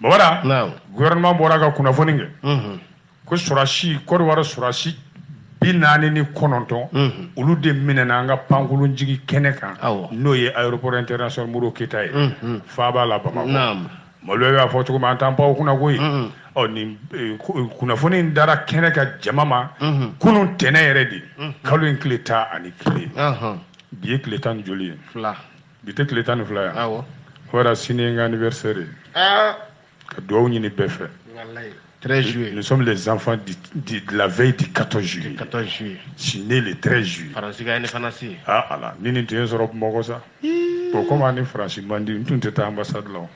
Bon voilà gouvernement bɔra ka kunnafoni kɛ ko sɔrɔsi Kɔrɔwari sɔrɔsi bi naani ni kɔnɔntɔn olu de minɛna an ka pankolon jigin kɛnɛ kan n'o ye aéroport international Modibo Keïta ye faaba la Bamakɔ malo y'a fɔ cogo an t'an pan u kunna koyi kunnafoni in dara kɛnɛ ka jama ma kunun tɛnɛn yɛrɛ de kalo in tile tan ni kelen bi ye tile tan ni joli ye bi tɛ tile tan ni fila ye wa awɔ voilà sini ye n ka anniversaire ye ah. ka dugawu ɲini bɛɛ fɛ 13 juillet. Nous sommes les enfants du, du, de la veille du 14 juillet. Du 14 juillet. Je suis né le 13 juillet. Faransi ka indépendance. Ah ala, ni nin tun ye n sɔrɔ Bamakɔ sa. Bon comme an ni Faransi man di, n tun tɛ taa ambassade la o.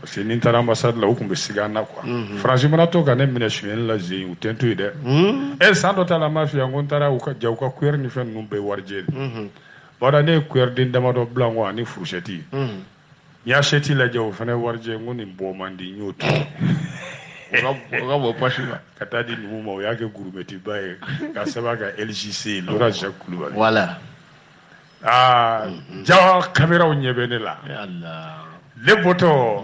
Parce que ni n taara ambassade la, u tun bɛ siga n na quoi. Mhm. Faransi mana to ka ne minɛ sonyɛli la zen, u tɛ n to yen dɛ. Ee mhm. eh, san dɔ ta la, n b'a f'i ye, n ko n taara u ka ja u ka cuillère ni fɛn ninnu bɛɛ warijɛ de. Mhm. Bon voilà ne ye cuillère den damadɔ bila n kɔ ani fourchette n y'a assiette lajɛ o fana warijɛ n ko nin bɔ man di n y'o to yen o ka bɔ pasi la ka taa di numu ma o y'a kɛ gourmette ba ye k'a sɛbɛn a kan LJC Laurent Jacques Kulubali voilà aa jaa kameraw ɲɛ bɛ ne la ne bɔtɔ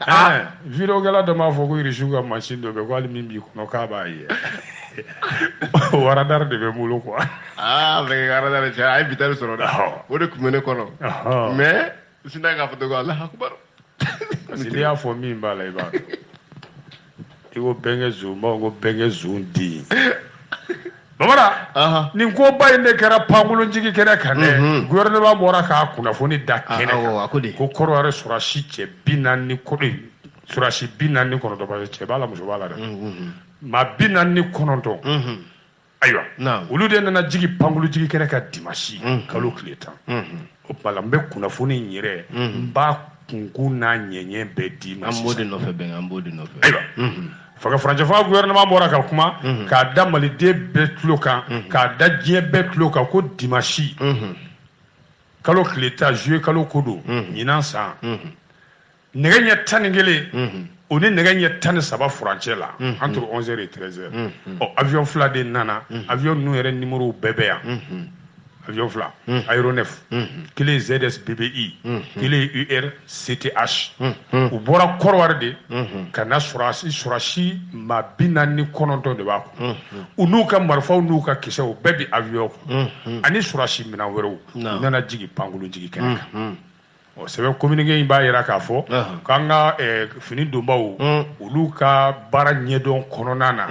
Ah. vidéokɛla dɔ m'a fɔ ko irisiw ka mansin dɔ bɛ ko hali min b'i kɔnɔ k'a b'a ye waradari de bɛ n bolo quoi aa mɛkɛ ka waradari cɛ a ye bitari sɔrɔ dɛ o de tun bɛ ne kɔnɔ mais n sinna k'a fɔ ko Allahu akbar parce que n'i y'a fɔ min b'a la i b'a dɔn i ko bɛnkɛ zonba ko bɛnkɛ zonden bon voilà nin koba in de kɛra pankolonjigi kɛnɛ kan dɛ gouvernement bɔra k'a kunnafoni da kɛnɛ kan ko Kɔrɔwari sɔrɔdasi cɛ bi naani ni kɔ sɔrɔdasi bi naani ni kɔnɔntɔn cɛ b'a la muso b'a la dɛ maa bi naani ni kɔnɔntɔn ayiwa olu de nana jigi pankulujigi kɛnɛ kan dimasi mm-hmm. kalo tile tan mm-hmm. o tuma la n bɛ kunnafoni in yɛrɛ n mm-hmm. b'a kunkun n'a ɲɛɲɛ bɛɛ d'i ma sisan an b'o de nɔfɛ bɛn an b'o de nɔfɛ ayiwa fanga furancɛfanga gouvernement bɔra ka kuma k'a da maliden bɛɛ tulo kan k'a da diɲɛ bɛɛ tulo kan ko dimasi kalo tile tan juillet kalo ko don ɲinan san nɛgɛ ɲɛ tan ni kelen mhm. o ni nɛgɛ ɲɛ tan ni saba furancɛ la mhm. entre 11 heures et 13 heures mhm. ɔ avion fila de nana avion ninnu yɛrɛ numéro bɛɛ bɛ yan avion fila aéronef kelen zs bbi kelen ur cth u bɔra kɔrɔwari de ka na sɔrɔsi sɔrɔsi maa bi naani ni kɔnɔntɔn de b'a kun u n'u ka marifaw n'u ka kisɛw bɛɛ bi avion kun ani sɔrɔsi minɛn wɛrɛw u nana jigin pankolon jigin kɛnɛ kan sɛbɛn kominike in b'a yira k'a fɔ k'an ka fini donbaw olu ka baara ɲɛdɔn kɔnɔna na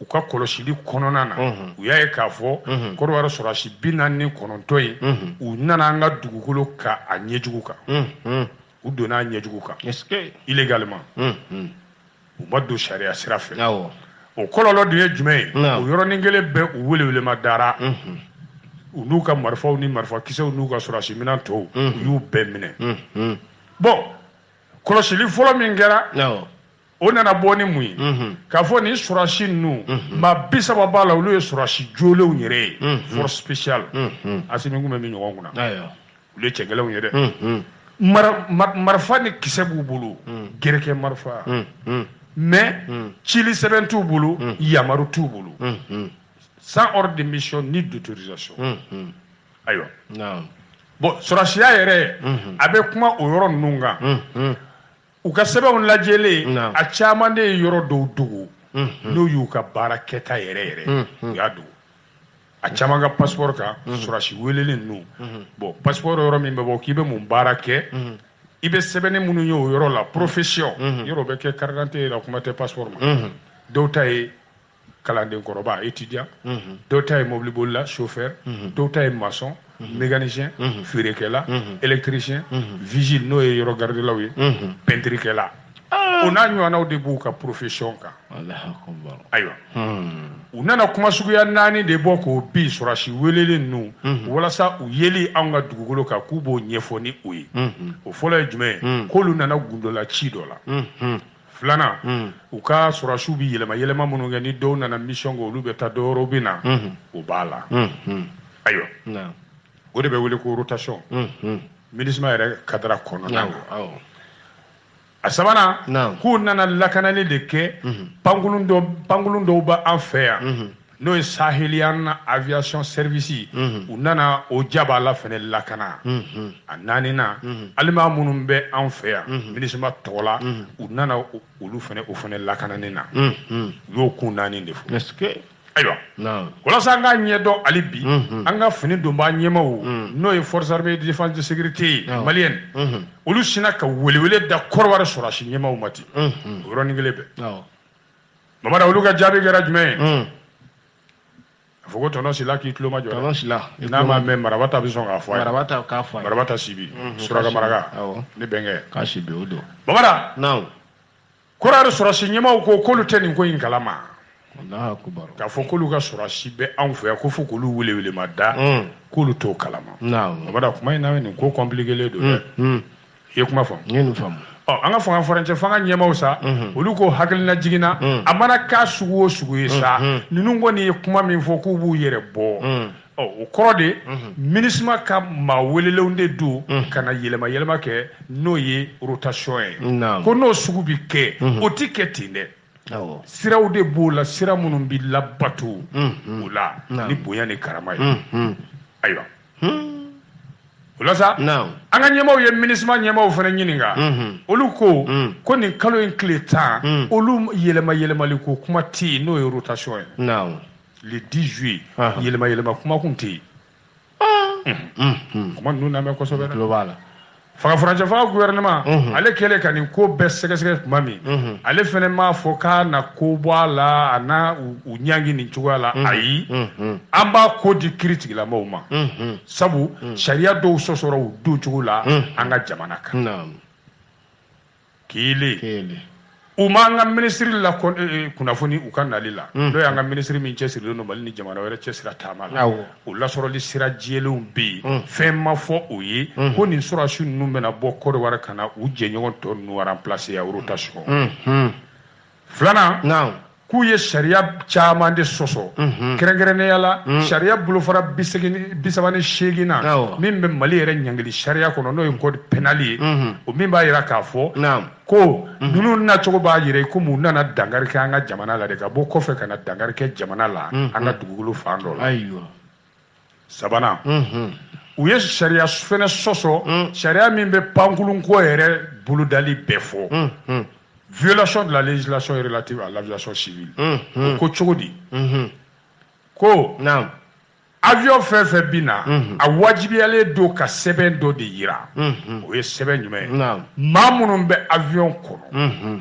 u ka kɔlɔsili kɔnɔna na u y'a ye k'a fɔ kɔrɔwari sɔrɔsi bi naani ni kɔnɔntɔn in u nana an ka dugukolo kan a ɲɛjugu kan u donna a ɲɛjugu kan illégalement u ma don sariya sira fɛ o kɔlɔlɔ dun ye jumɛn ye o yɔrɔnin kelen bɛɛ u welewelema dara u n'u ka marifaw ni marifakisɛw n'u ka sɔrɔdasi minɛn tɔw u y'u bɛɛ minɛ bon kɔlɔsili fɔlɔ min kɛra o nana bɔ ni mun ye k'a fɔ nin sɔrɔdasi ninnu maa bi saba b'a la olu ye sɔrɔdasi jolenw yɛrɛ ye force spéciale asimi tun bɛ min ɲɔgɔn kunna olu ye cɛgɛlɛnw ye dɛ marifa ni kisɛ b'u bolo gɛrɛkɛ marifa mais cili sɛbɛn t'u bolo yamaru t'u bolo sans ordre de mission ni d'autorisation ayiwa bon sɔrɔsiya yɛrɛ a bɛ kuma o yɔrɔ ninnu kan u ka sɛbɛnw lajɛlen a caman de ye yɔrɔ dɔw dogo n'u y'u ka baara kɛta yɛrɛ yɛrɛ u y'a dogo a caman ka passeport kan sɔrɔsi welelen ninnu bon passeport yɔrɔ min bɛ bɔ k'i bɛ mun baara kɛ i bɛ sɛbɛnni minnu ye o yɔrɔ la profession yɔrɔ bɛ kɛ carte d'identité la kuma tɛ passeport ma dɔw ta ye kalanden kɔrɔba étudiant dɔw ta ye mobili bolila chauffeur dɔw ta ye maçon mécanicien feerekɛla électricien vigile n'o ye yɔrɔ garidelaw ye peinturekɛla o n'a ɲɔgɔnnaw de b'u ka profession kan ayiwa u nana kuma suguya naani de bɔ k'o bi sɔrɔsi welelen ninnu walasa u yeli anw ka dugukolo kan k'u b'o ɲɛfɔ ni o ye o fɔlɔ ye jumɛn ye k'olu nana gundola ci dɔ la filanan mm. u ka sɔrɔsiw bɛ yɛlɛma yɛlɛma minnu kɛ ni dɔw nana mission kɛ olu bɛ taa dɔwɛrɛw bɛ na mm-hmm. o b'a la mm-hmm. ayiwa o de bɛ wele ko rotation mm-hmm. minusma yɛrɛ kadara kɔnɔna a sabanan k'u nana lakanali de kɛ pankulun dɔw b'an fɛ yan n'o ye sahelian aviation service mhm. u nana o jaba la fɛnɛ lakana mhm. a naaninan mhm. aliman minnu bɛ an fɛ yan minusma tɔgɔ la u nana olu fɛnɛ o fɛnɛ lakanani na u y'o kun naani de fɔ ayiwa walasa an k'a ɲɛdɔn hali bi an ka fini donbaa ɲɛmaaw n'o ye forces armées de défense de sécurité malienne olu sinna ka welewele da kɔrɔwari sɔrɔsi ɲɛmaaw ma ten o yɔrɔnin kelen bɛɛ bamara olu ka jaabi kɛra jumɛn ye hmm. a fɔ ko tɔnɔ sila k'i tulomajɔ tɔnɔ sila n'a ma mɛn maraba ta bɛ sɔn k'a fɔ a ye maraba ta k'a fɔ a ye maraba ta sibi hmm, suraka maraka ne bɛnkɛ k'a sibi o don bamara naamu kɔrɔwari sɔrɔsi ɲɛmaw ko k'olu tɛ nin ko in kalama k'a fɔ k'olu ka sɔrɔsi bɛ anw fɛ yan ko fo k'olu welewelema da hmm. k'olu t'o kalama bamara kuma in na nin ko kɔnpilikelen don dɛ i ye kuma faamu n ye nin faamu ɔ an ka fanga furancɛfanga ɲɛmaw sa mhm. olu ko hakilinajigin na mhm. a mana kɛ sugu o sugu ye sa mhm. ninnu kɔni ye kuma min fɔ k'u b'u yɛrɛ bɔ ɔ o kɔrɔ de MINUSMA ka maa welelenw de don ka na yɛlɛma yɛlɛma kɛ n'o ye rotation ye ko n'o sugu bi kɛ o ti kɛ ten dɛ siraw de b'o la sira minnu bi labato o la ni bonya ni karama ye ayiwa hmm. o la sa an ka ɲɛmaaw ye MINUSMA ɲɛmaaw fana ɲininka hmm. olu ko hmm. ko nin kalo in tile tan olu yɛlɛma yɛlɛmali ko kuma tɛ yen n'o ye rotation ye le 10 juillet yɛlɛma yɛlɛma kuma kun tɛ yen ah. kuma ninnu lamɛn kosɛbɛ dɛ. fanga furancɛfanga gouvernement mhm. ale kɛlen ka nin ko bɛɛ sɛgɛsɛgɛ tuma min mhm. ale fana m'a fɔ k'a na ko bɔ a la a na u ɲangi nin cogoya la mhm. ayi an b'a ko di kiritigɛlamɔgɔw ma sabu sariya dɔw sɔsɔra u don cogo la an ka jamana kan kelen kelen u ma an ka minisiri la eh, eh, kunnafoni u ka nali la mm. n'o y'an ka minisiri min cɛsirilen don mali ni jamana wɛrɛ cɛsira taama la o lasɔrɔli sira jɛlenw bɛ yen mm. fɛn ma fɔ o ye mm. ko nin sɔrɔsi ninnu bɛna bɔ kɔrɔwari ka na u jɛɲɔgɔn tɔ ninnu remplacer a rotation filanan naamu k'u ye sariya caman de sɔsɔ mhm. kɛrɛnkɛrɛnnenya la mhm. sariya bolofara bisaba ni seeginnan min bɛ mali yɛrɛ ɲangili sariya kɔnɔ n'o ye code pénal ye mhm. o min b'a jira k'a fɔ ko ninnu nacogo b'a jira komi u nana dankari kɛ an ka jamana la de ka bɔ kɔfɛ ka na dankari kɛ jamana la an ka dugukolo fan dɔ la sabanan u ye sariya fɛnɛ sɔsɔ mm. sariya min bɛ pankurun ko yɛrɛ bolodali bɛɛ fɔ mm, mm. violation de la législation relative à l'aviation civile o ko cogo di mm-hmm. ko naam avion fɛn fɛn bi na mm-hmm. a wajibiyalen don ka sɛbɛn dɔ de yira mm-hmm. o ye sɛbɛn jumɛn ye maa minnu bɛ avion kɔnɔ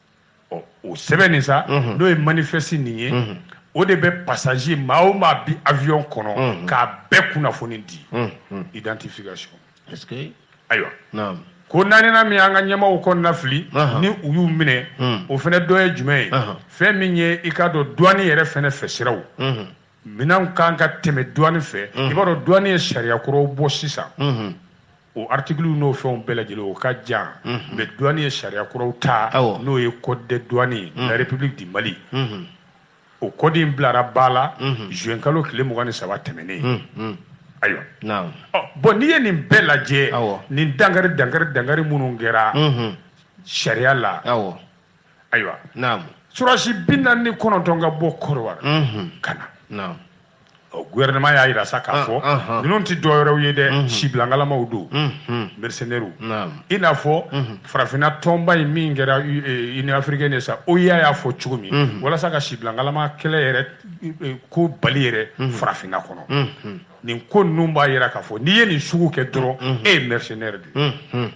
o sɛbɛn nin sa n'o ye manifeste nin ye o de bɛ passager maa o maa bi avion kɔnɔ k'a bɛɛ kunnafoni di identification ayiwa ko naaninan min an ka ɲɛmaaw kɔnɔnafili ni u y'u minɛ o fana dɔ ye jumɛn ye fɛn min ye i k'a dɔn douane yɛrɛ fana fɛ siraw minɛnw kan ka tɛmɛ duwani fɛ mhm. i b'a dɔn duwani ye sariya kuraw bɔ sisan mhm. o article n'o fɛnw bɛɛ lajɛlen o ka jan mhm. mais duwani ye sariya kuraw ta n'o ye code des douanes la république du mali o kɔdi in bilara ba la juin kalo tile mugan ni saba tɛmɛnen ayiwa bon n'i ye nin bɛɛ lajɛ nin dankari dankari dankari minnu kɛra sariya la ayiwa naamu surasi bi naani ni kɔnɔntɔn ka bɔ kɔrɔwari ka na naamu ɔ gouvernement y'a yira sa k'a ah, fɔ ah, ah. ninnu tɛ dɔ wɛrɛw ye dɛ mhm. sibilangalamaw don mhm. mercenaires i n'a fɔ mhm. farafinna tɔnba in min kɛra eh, union africaine ye sa OUA y'a fɔ cogo min walasa ka sibilangalama kɛlɛ yɛrɛ eh, eh, ko bali yɛrɛ farafinna kɔnɔ nin ko ninnu b'a yira k'a fɔ n'i ye nin sugu kɛ dɔrɔn e ye mercenaire de ye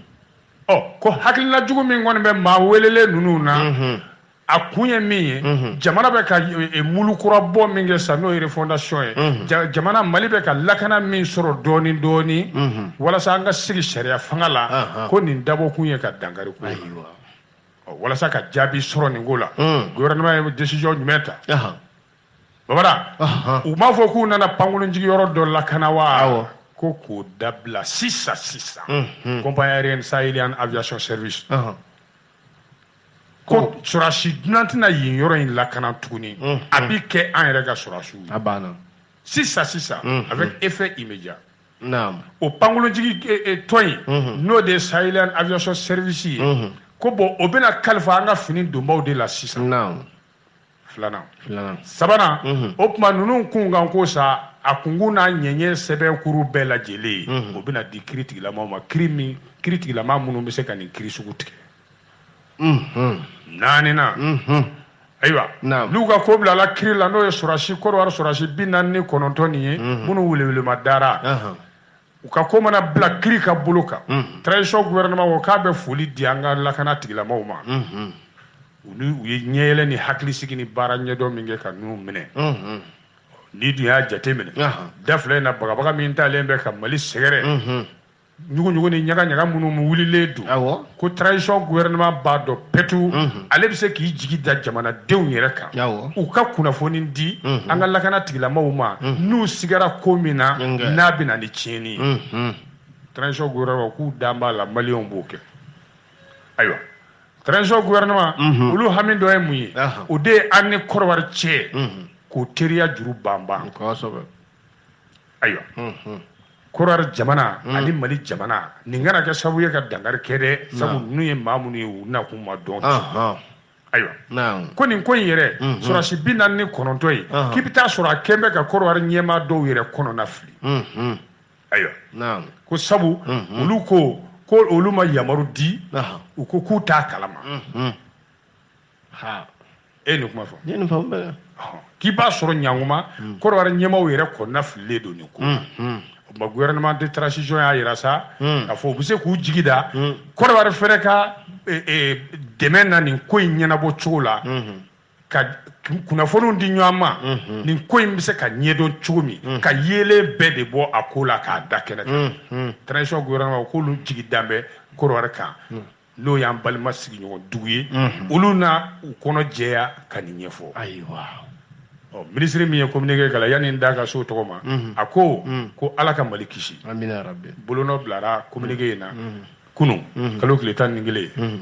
ɔ ko hakilina jugu min kɔni bɛ maa welelen ninnu na a kun ye min ye jamana bɛ ka e, mulu kura bɔ min kɛ sa n'o ye refondation ye jamana mali bɛ ka lakana min sɔrɔ dɔɔni dɔɔni walasa an ka sigi sariya fanga la ko nin dabɔ kun ye ka dankari k'o la walasa ka jaabi sɔrɔ nin ko la gouvernement ye décision jumɛn ta baba u m'a fɔ k'u nana pankolon jigi yɔrɔ dɔ lakana wa ko k'o dabila sisan sisan compagnie aérienne sahelian aviation service ko surasi dunan tɛna yen yɔrɔ in lakana tuguni a bi kɛ an yɛrɛ ka surasiw ye sisan sisan avec effet immédiat o pankolonjigi tɔn in n'o de ye sahelian aviation service ye ko bon o bɛna kalifa an ka fini donbaw de la sisan filanan filanan sabanan mhm. o tuma ninnu kun kan ko sa a kunkun n'a ɲɛɲɛ sɛbɛn kuru bɛɛ lajɛlen mhm. o bɛna di kiri tigilamaw ma kiri tigilama minnu bɛ se ka nin kiri sugu tigɛ mhm. naaninan ayiwa n'u ka ko bilala kiri la n'o ye surasi kɔrɔwari surasi bi naani ni kɔnɔntɔn nin ye minnu welewelema dara u ka ko mana bila kiri ka bolo kan transition gouvernement ko k'a bɛ foli di an ka lakana tigilamaw ma olu u ye ɲɛyɛlɛ ni hakilisigi ni baara ɲɛdɔn min kɛ ka ninnu minɛ n'i dun y'a jate minɛ da fila in na bagabaga min talen bɛ ka mali sɛgɛrɛ ɲuguɲugu ni ɲagaɲaga minnu wulilen don ko transition gouvernement b'a dɔn pɛtu ale bɛ se k'i jigi da jamanadenw yɛrɛ kan u ka kunnafoni di an ka lakana tigilamaw ma n'u sigara ko min na n'a bɛ na ni tiɲɛni ye transition gouvernement k'u dan b'a la maliyɛnw b'o kɛ ayiwa transition gouvernement mhm. olu hami dɔ ye mun ye o de ye an ni kɔrɔwari cɛ mhm. k'o teriya juru banban ayiwa mhm. kɔrɔwari jamana ani mali jamana nin kana kɛ sababu ye ka dankari kɛ dɛ sabu ninnu ye maa minnu ye u nakun ma dɔn ayiwa ko nin ko in yɛrɛ sɔrɔdasi bi naani ni kɔnɔntɔn ye k'i bɛ taa sɔrɔ a kɛn bɛ ka kɔrɔwari ɲɛmaa dɔw yɛrɛ kɔnɔna fili ayiwa naam ko sabu mhm. olu ko ko olu ma yamaru di u ko k'u t'a kalama mhm. ha e nin kuma fɔ ne ni faamu bɛɛ k'i b'a sɔrɔ ɲanguma mhm. kɔrɔwari ɲɛmaaw yɛrɛ kɔnɔna fililen don nin ko ma gouvernement de transition y'a yira sa k'a fɔ u bɛ se k'u jigi da kɔrɔwari fɛnɛ ka e, e, dɛmɛ na nin ko in ɲɛnabɔ cogo la ka kunnafoniw di ɲɔgɔn ma mhm. nin ko in bɛ se ka ɲɛdɔn cogo min mhm. ka yeelen bɛɛ de bɔ a ko la k'a da kɛnɛ kan mhm. transition gouvernement k'olu jigi dan bɛ kɔrɔwari kan n'o y'an balima sigiɲɔgɔn dugu ye olu na u kɔnɔ jɛya ka nin ɲɛfɔ ayiwa ɔ minisiri min ye communiqué kalan yanni n da ka s'o tɔgɔ ma a ko ko ala ka mali kisi bolonɔ bilara communiqué in na kunun kalo tile tan ni kelen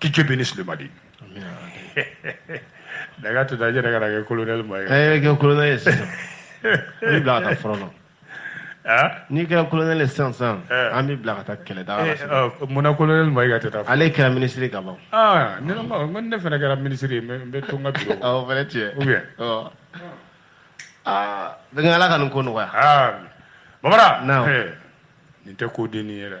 Que Dieu bénisse le Mali. Amen. Daga tuta jere kana kɛ colonel Maïga. E kɛ colonel ye sisan. N b'i bila ka taa front na. Ah? N'i kɛra colonel ye sisan sisan eh. an b'i bila ka taa kɛlɛ daga la eh, sisan. Oh, Munna colonel Maïga tɛ taa. Ale kɛra ministre ka ban. Ah ne ma ko ne fana kɛra ministre ye n bɛ to n ka bureau. Awɔ o fana tiɲɛ. Ou bien. Ɔ. Aa bɛnkɛ Ala ka nin ko nɔgɔya. Aa Bamara. Naamu. Nin tɛ ko dennin ye dɛ.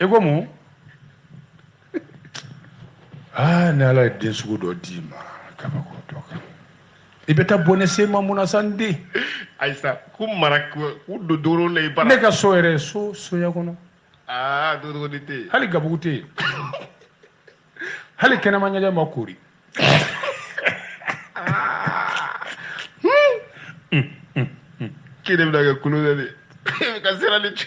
i ko mun aa ah, ni ala ye den sugu dɔ d'i ma kabako dɔ kan i bɛ taa bɔnɛ se ma mun na sa n den ayisa ko mara k'u don doro la i bara ne ka so yɛrɛ so soya kɔnɔ aa ah, dodogoni tɛ yen hali gabugu tɛ yen hali kɛnɛma ɲɛgɛn ma koori kelen bɛna kɛ kulo dɛ ka sira ni cɛ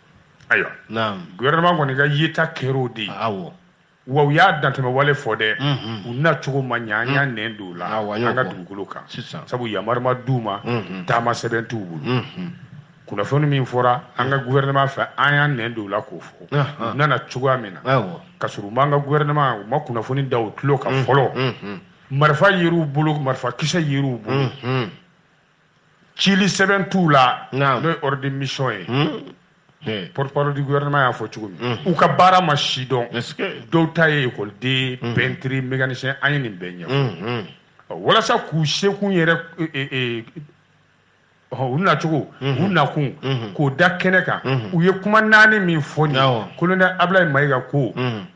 ayiwa gouvernement kɔni ka yeta kɛr'o de ye wa u y'a dantɛmɛwale fɔ dɛ u na cogo ma ɲɛ an y'a nɛn don u la an ka dugukolo kan sabu yamari ma d'u ma taama sɛbɛn t'u bolo kunnafoni min fɔra an ka gouvernement fɛ an y'a nɛn don u la k'o fɔ u nana cogoya min na ka sɔrɔ u m'an ka gouvernement u ma kunnafoni da u tulo kan fɔlɔ marifa yer'u bolo marifakisɛ yer'u bolo cili sɛbɛn t'u la n'o ye ordre de mission ye hmm. hmm. porte-parole du gouvernement y'a fɔ cogo min hmm. u ka baara ma sidɔn dɔw ta ye ekɔliden pɛntiri mécanicien a ye nin bɛɛ ɲɛfɔ walasa k'u sekun yɛrɛ e, e, e, u nacogo u nakun k'o da kɛnɛ kan u ye kuma naani min fɔ nin colonel abulayi mayiga ko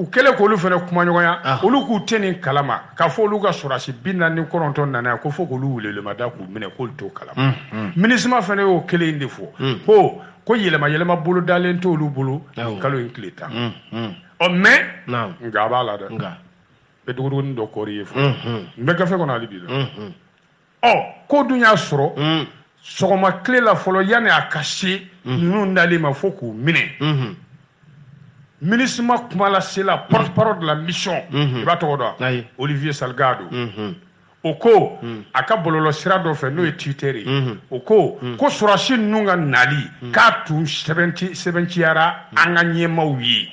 u kɛlen k'olu fana kumaɲɔgɔnya ah. olu k'u tɛ nin kalama k'a fɔ olu ka sɔrɔdasi bi naani ni kɔnɔntɔn nana yan ko fo k'olu welelemada k'u minɛ k'olu t'o kalama mm, mm. MINUSMA fana y'o kelen in de fɔ mm. ko ko yɛlɛma yɛlɛma bolodalen t'olu bolo nin kalo in tile tan ɔ mais nka a b'a la dɛ n bɛ duguduguni dɔ kɔɔri ye fo n bɛ gafe kɔnɔ hali bi dɛ ɔ ko dun y'a sɔrɔ hmm. sɔgɔma tile la fɔlɔ yanni a ka se hmm. ninnu nali ma fo k'u minɛ hmm. MINUSMA kumalasela porte-parole de la mission i b'a tɔgɔ dɔn Olivier Salgado o ko a ka bɔlɔlɔ sira dɔ fɛ n'o ye Twitter ye o ko ko sɔrɔdasi ninnu ka nali k'a tun sɛbɛntiyara an ka ɲɛmaaw ye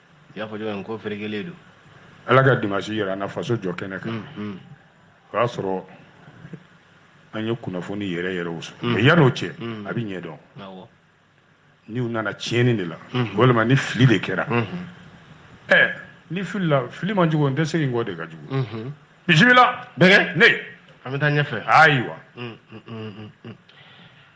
i y'a fɔ cogo min ko ferekelen don ala ka dimanche yira an na faso jɔ kɛnɛ kan mm, mm. o y'a sɔrɔ an ye kunnafoni yɛrɛ yɛrɛw sɔrɔ mm. mais yan'o cɛ a bɛ ɲɛdɔn n'u nana tiɲɛni de la mm-hmm. walima ni fili de kɛra ɛɛ mm-hmm. eh, n'i filila fili man jugu n tɛ segin kɔ de ka jugu mm-hmm. bisimila bɛnkɛ ne an bɛ taa ɲɛfɛ ayiwa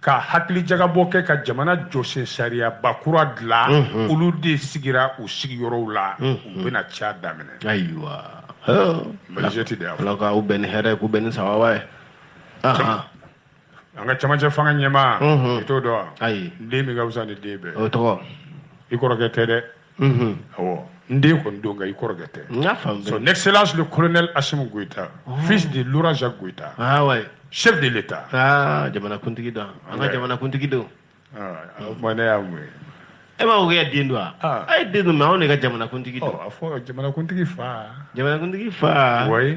ka hakilijagabɔ kɛ ka jamana jɔsen sariyaba kura dila olu de sigira u sigiyɔrɔw la u bɛna ca daminɛ majorité de y'a fɔ ala k'u bɛn ni hɛrɛ k'u bɛn ni sababu ye an ka camancɛ fanga ɲɛmaa i t'o dɔn wa ayi n den min ka fisa ni den bɛɛ o tɔgɔ i kɔrɔkɛ tɛ dɛ unhun awɔ n den kɔni don nka i kɔrɔkɛ tɛ n y'a faamu son excellence le colonel Assimi Goïta oh. fils de Laurent Jacques Goïta ah ouais chef de l'état ah jamanakuntigi don an ka jamanakuntigi don ah, ah o tuma ne y'a mun ye e m'a fɔ k'e den don wa ah. ayi e den don mais anw de ka jamanakuntigi don oh, a fɔ jamanakuntigi fa jamanakuntigi fa ouais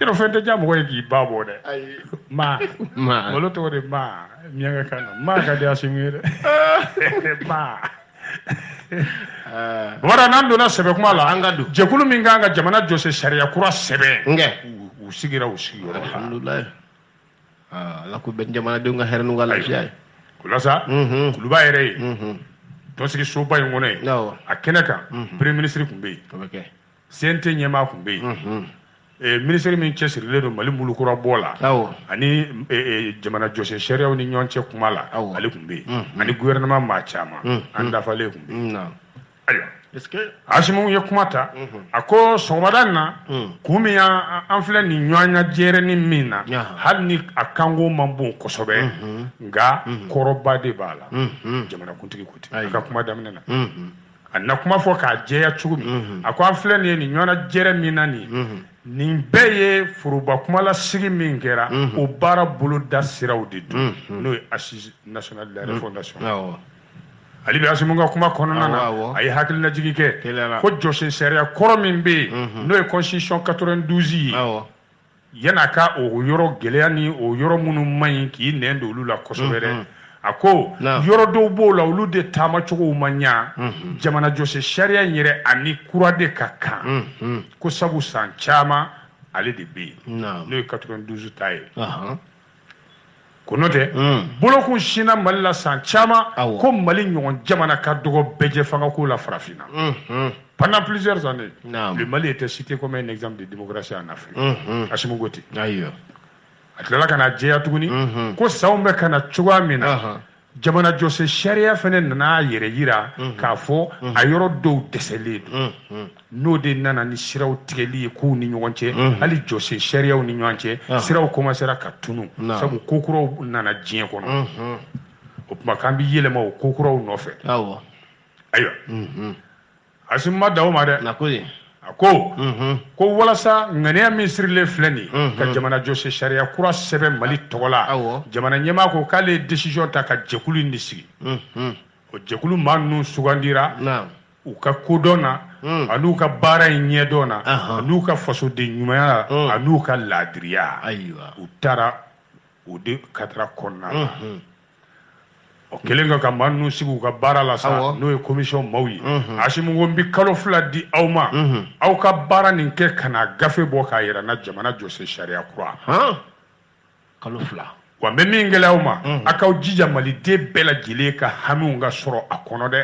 yɔrɔ fɛn tɛ diya mɔgɔ ye k'i ba bɔ dɛ maa maa malo tɔgɔ de maa miyankakan na maa ka di Assimi ye dɛ maa wara n'an donna sɛbɛ kuma la an ka don jɛkulu min kan ka jamana jɔsen sariya kura sɛbɛn nkɛ u sigira u sigiyɔrɔ la alhamdulilayi ala k'o bɛn jamanadenw ka hɛrɛ n'u ka lafiya ye o la sa kuluba yɛrɛ yen tɔnsigisoba in kɔnɔ yen a kɛnɛ kan premier ministre tun bɛ yen CNT ɲɛmaa tun bɛ yen eh, minisiri min cɛsirilen don mali mulukura bɔ la ani eh, eh, jamana jɔsen sariyaw ni ɲɔgɔn cɛ kuma la ale tun bɛ yen ani gouvernement maa caman an dafalen tun bɛ yen ayiwa asimi ye kuma ta a ko sɔgɔmada in na kun min an filɛ nin ɲɔgɔnna jɛrɛni min na hali ni a kanko man bon kosɛbɛ nka kɔrɔba de b'a la jamanakuntigi ko ten a ka kuma daminɛ na a na kuma fɔ k'a jɛya cogo min mhm. a ko an filɛ nin ye nin ɲɔgɔnna jɛrɛ min na nin mhm. nin bɛɛ ye foroba kumalasigi min kɛra mhm. o baara boloda siraw de don n'o ye assises nationales de la refondation hali bi asimi ka kuma kɔnɔna na a ye hakilinajigi kɛ ko jɔsen sariya kɔrɔ min bɛ yen n'o ye constitution 92 ye yan a ka o yɔrɔ gɛlɛya ni o yɔrɔ minnu man ɲi k'i nɛn don olu la kosɛbɛ dɛ. Unhun. a ko Naam. yɔrɔ dɔw b'o la olu de taamacogow ma ɲa Unhun. jamana jɔsen sariya in yɛrɛ a ni kura de ka kan Unhun. ko sabu san caman ale de bɛ yen Naam. n'o ye 92 ta ye Ahan. ko n'o tɛ mm. bolokun sinna mali la san caman ko mali ɲɔgɔn jamana ka dɔgɔ bɛɛjɛ fangako la farafinna mm-hmm. pendant plusieurs années le mali était cité comme un exemple de démocratie en afrique mm-hmm. asimi ko ten a tilala ka n'a jɛya tuguni mm-hmm. ko sanw bɛ ka na cogoya min na jamana jɔsen sariya fana nana a yɛrɛ yira mhm. k'a fɔ mhm. a yɔrɔ dɔw dɛsɛlen don mhm. n'o de nana ni siraw tigɛli ye kow ni ɲɔgɔn cɛ hali jɔsen sariyaw ni ɲɔgɔn cɛ ah. siraw kɔmansera ka tunu sabu ko kuraw nana diɲɛ kɔnɔ o tuma k'an bɛ yɛlɛma o ko kuraw nɔfɛ ayiwa asimi ma dan o ma dɛ a ko ye a ko ko walasa ŋaniya min sirilen filɛ nin ka jamana jɔsen sariya kura sɛbɛn mali tɔgɔ la jamana ɲɛmaa ko k'ale ye décision ta ka jɛkulu in de sigi o jɛkulu maa ninnu sugandira u ka kodɔn na ani u ka baara in ɲɛdɔn na ani u ka fasoden ɲumanya la ani u ka laadiriya u tara o de cadre kɔnɔna o kɛlen ka ka maa ninnu sigi u ka baara la sa n'o ye commission maaw ye asimi ko n bɛ kalo fila di aw ma aw ka baara nin kɛ ka na gafe bɔ k'a yira n na jamana jɔsen sariya kura kalo fila wa n bɛ min gɛlɛya aw ma a k'aw jija maliden bɛɛ lajɛlen ka hamiw ka sɔrɔ a kɔnɔ dɛ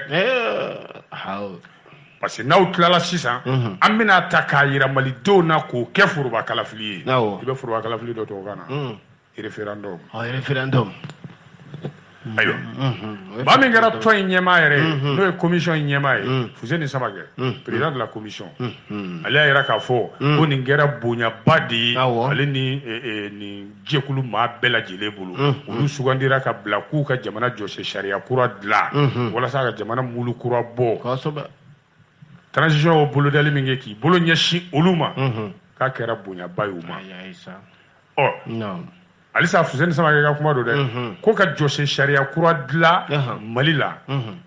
parce que n'aw tilala sisan an bɛn'a ta k'a yira malidenw na k'o kɛ foroba kalafili ye i bɛ foroba kalafili dɔn tubabukan na référendum ɔ référendum ayiwa Mhm. maa min kɛra tɔn in ɲɛmaa yɛrɛ ye n'o ye commission in ɲɛmaa ye fuseni samakɛ président de la commission Mhm. ale y'a yira k'a fɔ ko nin kɛra bonyaba de ye Awɔ. ale ni eh, eh, nin jɛkulu maa bɛɛ lajɛlen bolo olu sugandira ka bila k'u ka jamana jɔsen sariya kura dilan walasa ka jamana mulu kura bɔ kosɛbɛ transition o bolodali min kɛ k'i bolo ɲɛsin olu ma k'a kɛra bonyaba ye u ma ɔ halisa fuseni samakɛ ka kuma don dɛ ko ka jɔsen sariya kura dilan mali la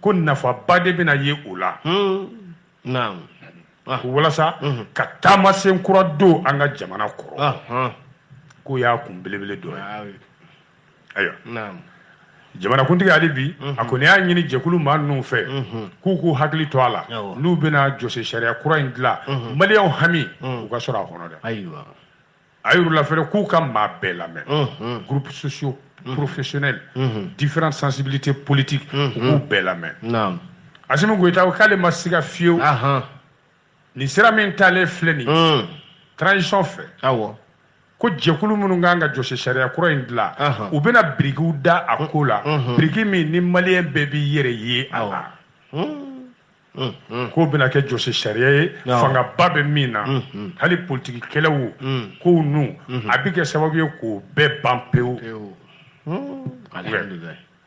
ko nafaba de bɛna ye o la walasa ka taamasen kura don an ka jamana kɔrɔ k'o y'a kun belebele dɔ ye ayiwa jamanakuntigi hali bi mhm. a kɔni y'a ɲini jɛkulu maa ninnu fɛ mhm. k'u k'u hakili to a la n'u bɛna jɔsen sariya kura in dilan mhm. maliyɛnw hami u ka sɔrɔ a kɔnɔ dɛ a yir'u la fɛnɛ k'u ka maa bɛɛ lamɛn groupes sociaux professionnels différentes sensibilités politiques u k'u bɛɛ lamɛn Asimi Goyita ko k'ale ma siga fiyewu nin sira min taalen filɛ nin ye transition fɛ awɔ ko jɛkulu minnu kan ka jɔsen sariya kura in dilan u bɛna birikiw da a ko la biriki min ni maliyɛn bɛɛ b'i yɛrɛ ye a la k'o bɛna kɛ jɔsen sariya ye fangaba bɛ min na hali politiki kɛlɛw kow ninnu a bɛ kɛ sababu ye k'o bɛɛ ban pewu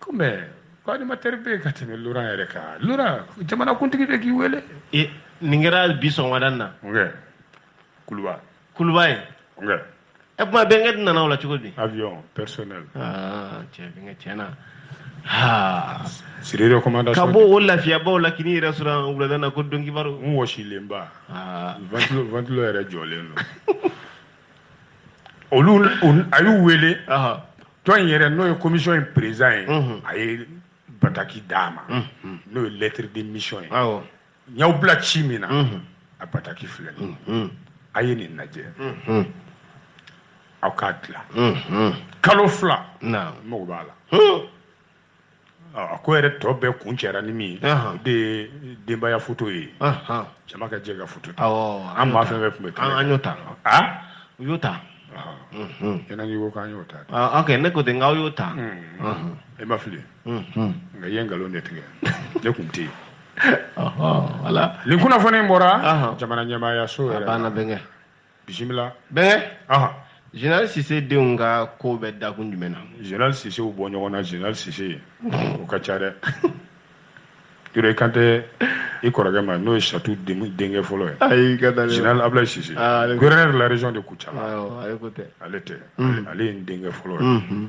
kɔmi ko animatɛri bɛ yen ka tɛmɛ loran yɛrɛ kan loran jamanakuntigi de k'i wele e, nin kɛra bi sɔgɔmada in na kuluba kuluba ye e kuma bɛnkɛ dun nana o la cogo di avion personnel ah, cɛ bɛnkɛ tiɲɛna sur recommandation ka bɔ o lafiyaba o la ka n'i yɛrɛ sɔrɔ wulada na ko don kibaru n wɔsilenba ventilo yɛrɛ jɔlen don olu a y'u wele tɔn in yɛrɛ n'o ye commission in président ye a ye bataki d'a ma n'o ye lettre de mission ye n y'aw bila ci min na a bataki filɛ a ye nin lajɛ aw k'a dilan kalo fila mago b'a la a ko yɛrɛ tɔ bɛɛ kuncɛra ni min ye o de ye denbaya foto ye jama ka jɛ ka foto ta an maa fɛn fɛn tun bɛ kɛnɛ an y'o ta u y'o ta kɛnɛ n'i ko k'an y'o ta ok ne ko ten n k'aw y'o ta e ma fili nka i ye nkalon de tigɛ ne kun tɛ yen nin kunnafoni bɔra jamana ɲɛmaayaso yɛrɛ a banna bɛnkɛ bisimila bɛnkɛ ɔhɔn général sise denw ka ko bɛ dakun jumɛn na général sisew bɔ ɲɔgɔn na général sise o ka ca dɛ Yɔrɔ i kan tɛ i kɔrɔkɛ ma n'o ye Satu denkɛ fɔlɔ ye ayi ka da général Ablaye Sise gouverneur de la région de Kucala ale ko tɛ ale tɛ ale ye n denkɛ fɔlɔ ye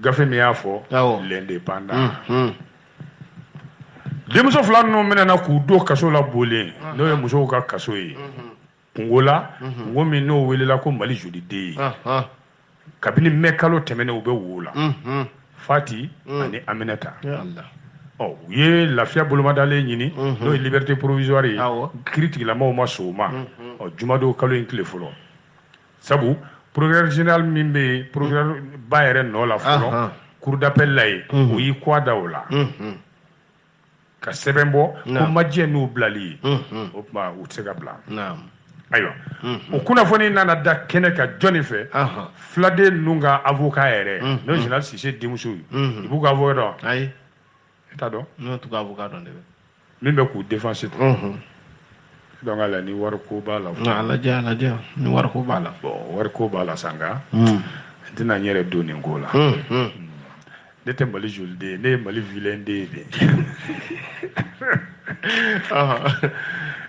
gafe min y'a fɔ l'indépendant denmuso fila ninnu minɛna k'u don kaso la bole n'o ye musow ka kaso ye kungo la kungo min n'o welela ko mali joli den ye kabini mɛ kalo tɛmɛnen u bɛ wo la fati ani aminata ɔ u ye lafiya bolomadalen ɲini n'o ye liberté provisoire ye kiritigɛlaw ma sɔn o ma ɔ jumadon kalo in tile fɔlɔ sabu procureur général min bɛ yen procureur ba yɛrɛ nɔ la fɔlɔ Ahan. cour d'appel la yen Mhm. o y'i kɔ da o la Mhm. ka sɛbɛn bɔ ko Naamu. ma jɛn n'u bilali ye Mhm. o tuma u tɛ se ka bila Naam. ayiwa Mhm. o kunnafoni nana da kɛnɛ kan jɔnni fɛ Ahan. filaden ninnu ka avocat yɛrɛ Mhm. n'o ye général sise denmuso ye Mhm. i b'u ka avocat dɔn Ayi. i t'a dɔn ne t'u ka avocat dɔn dɛ min bɛ k'u défense dɔn unhun donc ala ni wariko b'a la a lajɛ a lajɛ ni wariko b'a la bon wariko b'a la sa nka n tɛna n yɛrɛ don nin ko la ne tɛ mali joli den ye ne ye mali vilain den ye de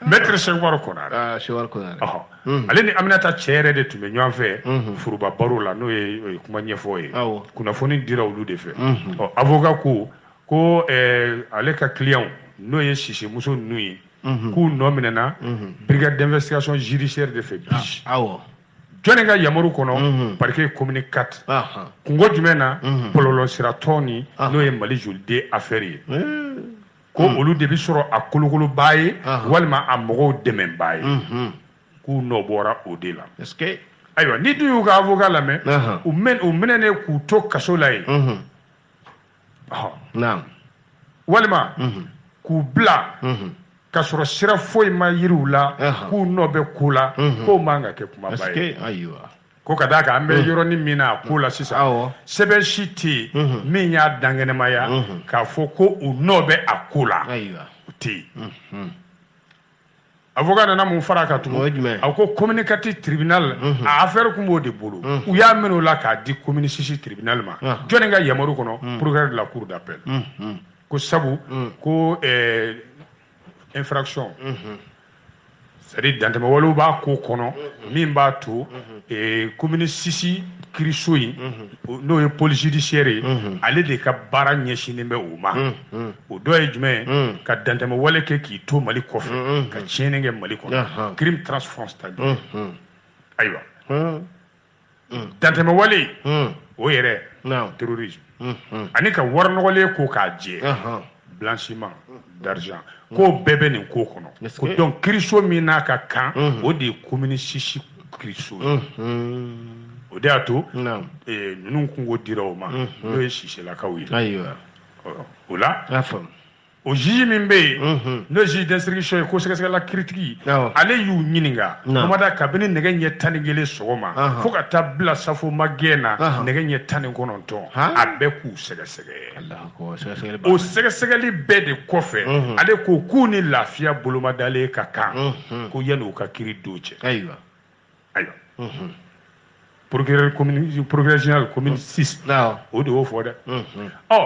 maître cheick oumar konare ah, cheick oumar konare Mm. ale ni aminata cɛ yɛrɛ de tun bɛ ɲɔgɔn fɛ mm-hmm. foroba baro la n'o ye kuma ɲɛfɔ ye kunnafoni dira olu de fɛ mm-hmm. ɔ avocat ko ko eh, ale ka client n'o ye sise muso ninnu ye mm-hmm. k'u nɔ minɛna brigade d'investigation judiciaire de fɛ bi ah, jɔnni ka yamaru kɔnɔ parquet commune 4 kungo jumɛn na bɔlɔlɔ sira tɔn ni n'o ye mali joli den affaire ye eh. ko hmm. olu de bɛ sɔrɔ a kolokolobaa ye walima a mɔgɔw dɛmɛbaa ye hmm. k'u nɔ bɔra o de la ayiwa n'i dun y'u ka avocat lamɛn u mɛn u minɛnen k'u to kaso la yen hmm. walima k'u bila ka sɔrɔ sira foyi ma yira u la k'u nɔ bɛ ko la k'o man ka kɛ kumaba ye ko ka d'a kan an bɛ mm. yɔrɔnin min na a ko la sisan sɛbɛn si tɛ yen mm-hmm. min y'a dankɛnɛmaya mm-hmm. k'a fɔ ko u nɔ bɛ a ko la o tɛ yen mm-hmm. avocat nana mun fara a kan tugun a ko commune 4 tribunal a affaire tun b'o de bolo u y'a minɛ o la k'a di commune 6 tribunal ma ah. jɔni ka yamaru kɔnɔ mm. procureur de la cour d'appel ko sabu ko eh, infraction c'est-à-dire dantɛmɛ walew b'a ko kɔnɔ min b'a to commune 6 kiriso in n'o ye pôle judiciaire ye ale de ka baara ɲɛsinnen bɛ o ma o dɔ ye jumɛn ka dantɛmɛ wale kɛ k'i to mali kɔfɛ ka tiɲɛni kɛ mali kɔnɔ crime transfrontalier ayiwa dantɛmɛ wale o yɛrɛ terrorisme ani ka wari nɔgɔlen ko k'a jɛ blanchiment d'argent k'o bɛɛ bɛ nin ko kɔnɔ ko donc kiriso min n'a ka kan o de ye commune 6 kiriso o de y'a to ninnu kunko dira o ma n'o ye siselakaw ye o la o juge min bɛ yen mhm. n'o ye juge d'instruction ye ko sɛgɛsɛgɛla kiritigi ale y'u ɲininka bamada kabini nɛgɛ ɲɛ tan ni kelen sɔgɔma fo ka taa bila safo magɛn na nɛgɛ ɲɛ tan ni kɔnɔntɔn a bɛ k'u sɛgɛsɛgɛ o sɛgɛsɛgɛli bɛɛ de kɔfɛ mhm. ale ko k'u ni lafiya bolomadalen ka kan mhm. ko yanni u ka kiri don cɛ ayiwa procureur commune procureur général commune 6 awɔ o de y'o fɔ dɛ ɔ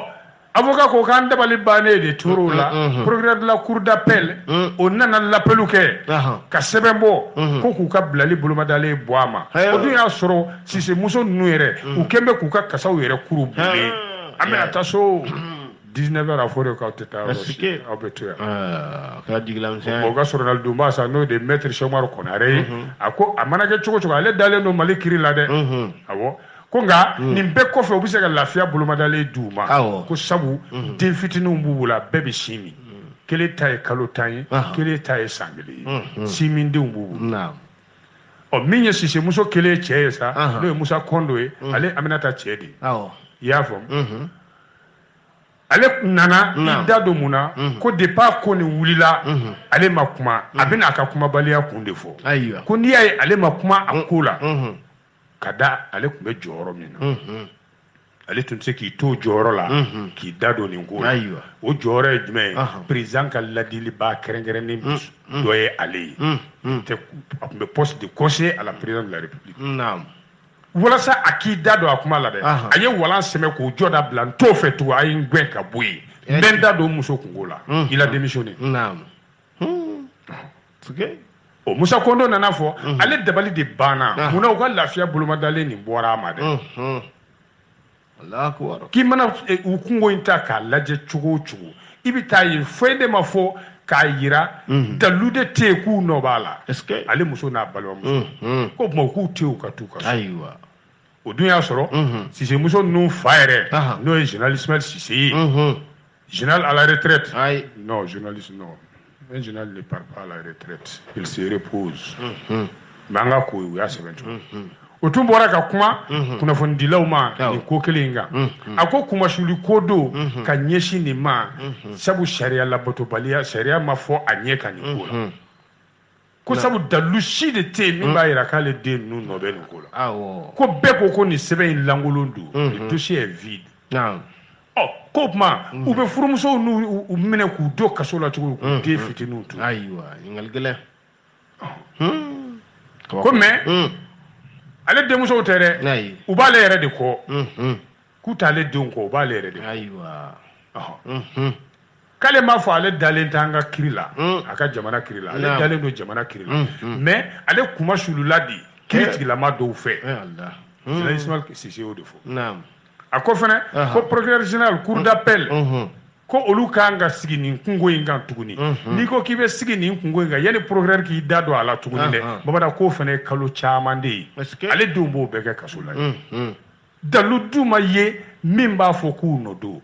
avocat ko k'an dabali bannen de tora o la procureur de la cour d'appel o nana l'appel kɛ ka sɛbɛn bɔ ko k'u ka bilali bolomadalen bɔ a ma o dun y'a sɔrɔ sise muso ninnu yɛrɛ u kɛn bɛ k'u ka kasaw yɛrɛ kuru bulen an bɛna taa so 19 heures a fɔ de k'aw tɛ taa yɔrɔ si aw bɛ to yan a kɛra jigilamisɛnya ye o ka sɔrɔnadonbaa sa n'o de ye maître Sɛku Umaru Konare ye a ko a mana kɛ cogo cogo ale dalen don Mali kiri la dɛ awɔ ko nka nin bɛɛ kɔfɛ u bɛ se ka lafiya bolomadalen di u ma ko sabu den fitininw b'u bolo a bɛɛ bɛ sin min kelen ta ye kalo tan ye kelen ta ye san kelen ye sin min denw b'u bolo ɔ min ye sisemuso kelen cɛ ye sa n'o ye Musa Kondo ye ale Aminata cɛ de ye i y'a faamu ale nana i da don mun na ko depuis ko nin wulila ale ma kuma a bɛna a ka kumabaliya kun de fɔ ko n'i y'a ye ale ma kuma a ko la ka da ale tun bɛ jɔyɔrɔ min na ale tun tɛ se k'i to jɔyɔrɔ la k'i da don nin ko la o jɔyɔrɔ ye jumɛn ye président ka ladilibaa kɛrɛnkɛrɛnnen dɔ ye ale ye a tun bɛ poste de conseiller à la présidence de la république walasa a k'i da don a kuma la dɛ a ye walan sɛmɛ k'o jɔda bila n t'o fɛ tugun a ye n gɛn ka bɔ yen n bɛ n da don muso kungo la il a démissionné o musa kondo nan'a fɔ ale dabali de banna munna u ka lafiya bolomadalen nin bɔra a ma dɛ k'i mana e, u kungo in ta k'a lajɛ cogo o cogo i bɛ t'a ye foyi de ma fɔ k'a yira mhm. dalu de tɛ yen k'u nɔ b'a la ale muso n'a balimamuso mhm. ko tuma k'u to yen u ka t'u ka so o dun y'a sɔrɔ mhm. sisemuso ninnu fa yɛrɛ n'o ye général Ismaël Sise ye Général à la retraite Ayi. Non, journaliste, non. Un général ne part pas à la retraite. Il se repose. Hum, Mais an ka ko u y'a sɛbɛn cogo o tun bɔra ka kuma kunnafonidilaw ma Awɔ. nin ko kelen in kan a ko kunmasuli ko don ka ɲɛsin nin ma sabu sariya labatobaliya sariya ma fɔ a ɲɛ kan nin ko la ko sabu dalilu si de tɛ yen min b'a jira k'ale den ninnu nɔ bɛ nin ko la ko bɛɛ ko ko nin sɛbɛn in lankolon don le dossier est vide ɔ k'o tuma u bɛ furumusow ninnu minɛ k'u don kaso la cogo k'u den fitininw to ayiwa ɲininkali gɛlɛn ko mais ale denmusow tɛ dɛ u b'ale yɛrɛ de kɔ k'u t'ale denw kɔ u b'ale yɛrɛ de kɔ ayiwa k'ale m'a fɔ ale dalen tɛ an ka kiri la mm. a ka jamana kiri la ale dalen don jamana kiri la mm, mm. mais ale kuma sulula de kiri eh. tigilama dɔw fɛ général eh, Ismaël Sise y'o de fɔ a ko fana ko procureur général cour d'appel mm-hmm. ko olu kan ka sigi nin kunko in kan tuguni mm-hmm. n'i ko k'i bɛ sigi nin kunko in kan yanni procureur k'i da don a la tuguni dɛ bamada k'o fana ye kalo caman de ye ale denw b'o bɛɛ kɛ kaso la mm-hmm. dalu dun ma ye min b'a fɔ k'u nɔ don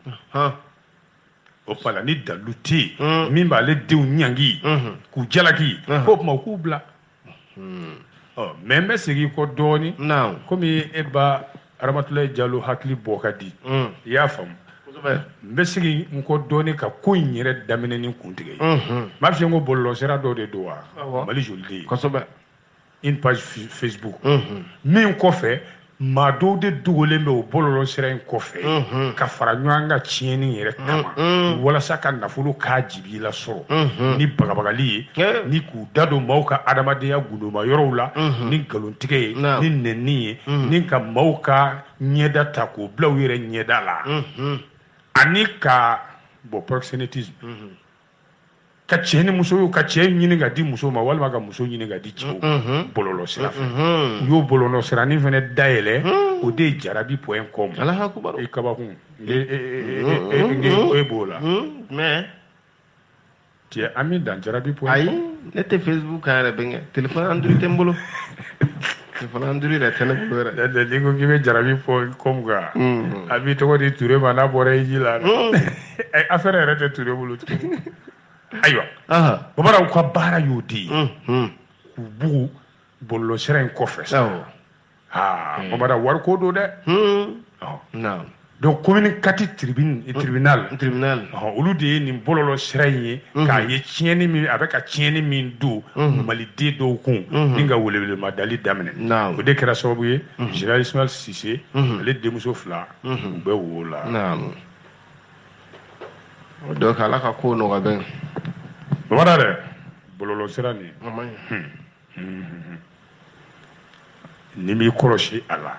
o tuma la ni dalu tɛ yen mm. min b'ale denw ɲangi mm-hmm. k'u jalaki mm-hmm. k'o tuma u k'u bila mm. ɔ mais n bɛ segin kɔ dɔɔnin komi e ba ramatulayi jalo hakili bɔ ka di mm. i y'a faamu n bɛ segin n kɔ dɔɔnin ka ko in yɛrɛ daminɛ ni kuntigɛ ye mm-hmm. n b'a f'i ye ko bɔlɔlɔsira dɔ de don wa mali jolie den une page Facebook mhm. min kɔfɛ maa dɔw de dogolen bɛ o bɔlɔlɔ sira in kɔfɛ mhm. ka fara ɲɔgɔn kan tiɲɛni yɛrɛ kama mhm. walasa ka nafolo k'a jibi la sɔrɔ ni bagabagali ye eh. ni k'u da don maaw ka adamadenya gundoma yɔrɔw la ni nkalontigɛ ye ni nɛnni ye ni ka maaw ka ɲɛda ta k'o bila u yɛrɛ ɲɛda la ani ka bon proxénétisme ka cɛ ni muso ka cɛ ɲini ka di muso ma walima ka muso ɲini ka di cɛw bɔlɔlɔ sira fɛ u y'o bɔlɔlɔ siranin fana dayɛlɛ o de ye jarabi point com i kabakun e b'o la cɛ an bɛ dan jarabi point com ayi ne tɛ facebook kan yɛrɛ bɛnkɛ telefɔni Android tɛ n bolo Android yɛrɛ tɛ ne bolo yɛrɛ. N'o tɛ n'i ko k'i bɛ jarabi point com kan. Unhun. A b'i tɔgɔ di Ture ma n'a bɔra hiji la. Unhun. Ayi affaire yɛrɛ tɛ Ture bolo tugun. Ayiwa. Ahan. Avatarw ka baara y'o de ye. Unhun. K'u bugu bɔlɔlɔsira in kɔfɛ sa. Awɔ. Aa. Avatar wariko don dɛ. Hun. Ɔhɔn. Naamu. donc commune quatre tribune euh, tribunal tribunal olu de ye nin bɔlɔlɔ sira in ye mhm. k'a ye tiɲɛni min a bɛ ka tiɲɛni min don mhm. maliden dɔw kun mhm. ni ka welewelemadali daminɛ o de kɛra sababu ye général ismail sise ale denmuso fila u bɛ o la donc ala ka ko nɔgɔya bɛɛ bamada dɛ bɔlɔlɔ sira nin n'i b'i kɔlɔsi a la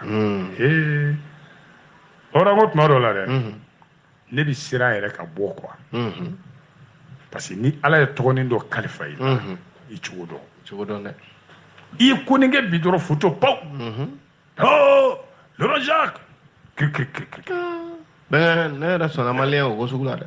ee hɔrɔn ko tuma dɔ la dɛ ne bɛ siran yɛrɛ ka bɔ quoi parce que ni ala ye tɔgɔnin dɔ kalifa i la i cogo dɔn dɛ i ye ko nin kɛ bi dɔrɔn foto paw hoo lɔrɔ jacques kirikirikirikiri ne yɛrɛ sɔnna maliyɛn o ko sugu la dɛ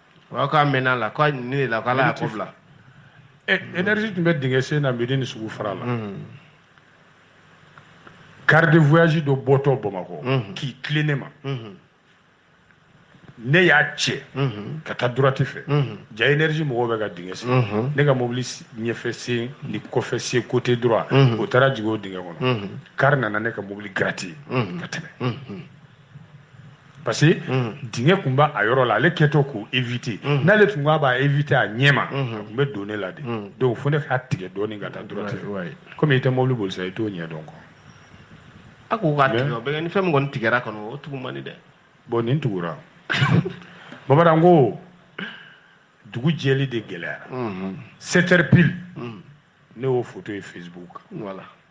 Aw k'a mɛn a la k'a ɲini de la k'ala y'a ko bila energie eh, tun bɛ dingɛ sen na medini sugu fara la car mm-hmm. de voyage dɔ bɔtɔ bamakɔ mm-hmm. k'i tilen ne ma mm-hmm. ne y'a cɛ ka taa droite fɛ ja energie mɔgɔw bɛ ka dingɛ sen ne ka mobili ɲɛfɛ sen ni kɔfɛ sen côté droit o taara jigin o dingɛ kɔnɔ car nana ne ka mobili gratter ka tɛmɛ parce que dingɛ tun b'a yɔrɔ la ale kɛtɔ k'o éviter n'ale tun k'a b'a éviter a ɲɛma a tun bɛ don ne la de donc fo ne k'a tigɛ dɔɔnin ka taa droite fɛ komi i tɛ mobili boli sa i t'o ɲɛ dɔn quoi a ko k'a tigɛ o bɛ kɛ ni fɛn min kɔni tigɛra kɔni o tugu man di dɛ bon nin tugura bamanan ko dugu jɛli de gɛlɛyara 7 heures pile ne y'o photo ye Facebook kan voilà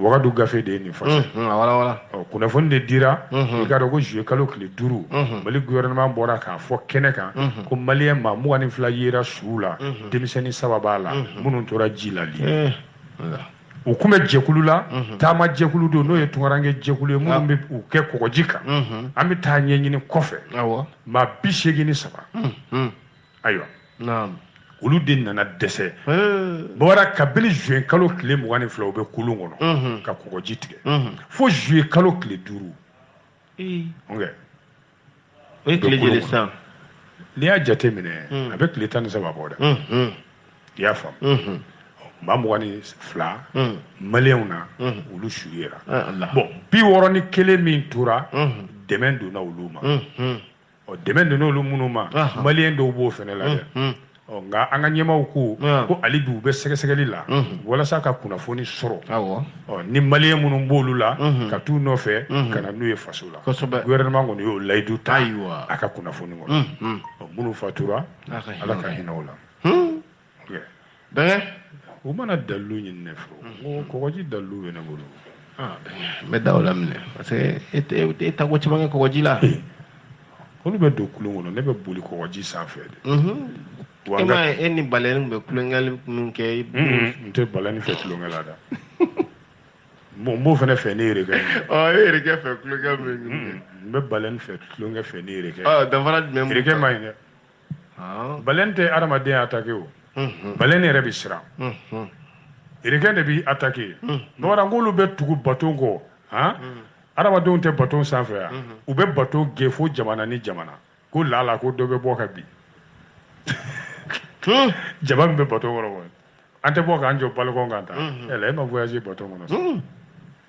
wagadu gafe de ye nin fana walawala kunnafoni de dira i k'a dɔn ko zuye kalo tile duuru mali gouvernement bɔra k'a fɔ kɛnɛ kan ko maliyɛn maa mugan ni fila yera suw la denmisɛnnin saba b'a la minnu tora ji la libi u kun bɛ jɛkulu la taama jɛkulu don n'o ye tunkaranke jɛkulu ye minnu bɛ u kɛ kɔgɔji kan an bɛ taa ɲɛɲini kɔfɛ maa bi seegin ni saba ayiwa olu de nana dɛsɛ bɔra kabini zuwɛn kalo tile mugan ni fila u bɛ kulun kɔnɔ ka kɔgɔji tigɛ fo zuye kalo tile duuru n'i y'a jate minɛ a bɛ tile tan ni saba bɔ dɛ i y'a faamu maa mugan ni fila maliyɛnw na olu su yera bon bi wɔɔrɔ ni kelen min tora dɛmɛ donna olu ma ɔ dɛmɛ donna olu minnu ma maliyɛn dɔw b'o fana la dɛ ɔ nka an ka ɲɛmaaw ko ko hali bi u bɛ sɛgɛsɛgɛli la walasa ka kunnafoni sɔrɔ awɔ ɔ ni maliyɛn minnu b'olu la ka t'u nɔfɛ ka na n'u ye faso la gouvernement kɔni y'o layidu ta a ka kunnafoni kɔnɔ minnu fatura ala ka hinɛ u la bɛɛ u mana dalilu ɲini ne fɛ n ko kɔgɔji dalilu bɛ ne bolo n bɛ da o la minɛ parce que e ta ko caman kɛ kɔgɔji la olu bɛ don kulun kɔnɔ ne bɛ boli kɔgɔji sanfɛ de e ma ye e ni baleine bɛ kulonkɛli minnu kɛ i n tɛ baleine fɛ kulonkɛ la dɛ bon n b'o fana fɛ ne yɛrɛ kɛ ɔ e yɛrɛ kɛ fɛ kulonkɛ min n bɛ baleine fɛ kulonkɛ fɛ ne yɛrɛ kɛ danfara jumɛn yɛrɛ kɛ ma ɲi dɛ baleine tɛ adamaden attaqué o baleine yɛrɛ bɛ siran requin de bɛ attaqué bamara k'olu bɛ tugu baton kɔ adamadenw tɛ baton sanfɛ yan u bɛ bato gɛn fo jamana ni jamana ko lala ko dɔ bɛ bɔ ka bin jama min bɛ bato kɔnɔ ko an tɛ bɔ k'an jɔ balcon kan ta e ma voyagé bato kɔnɔ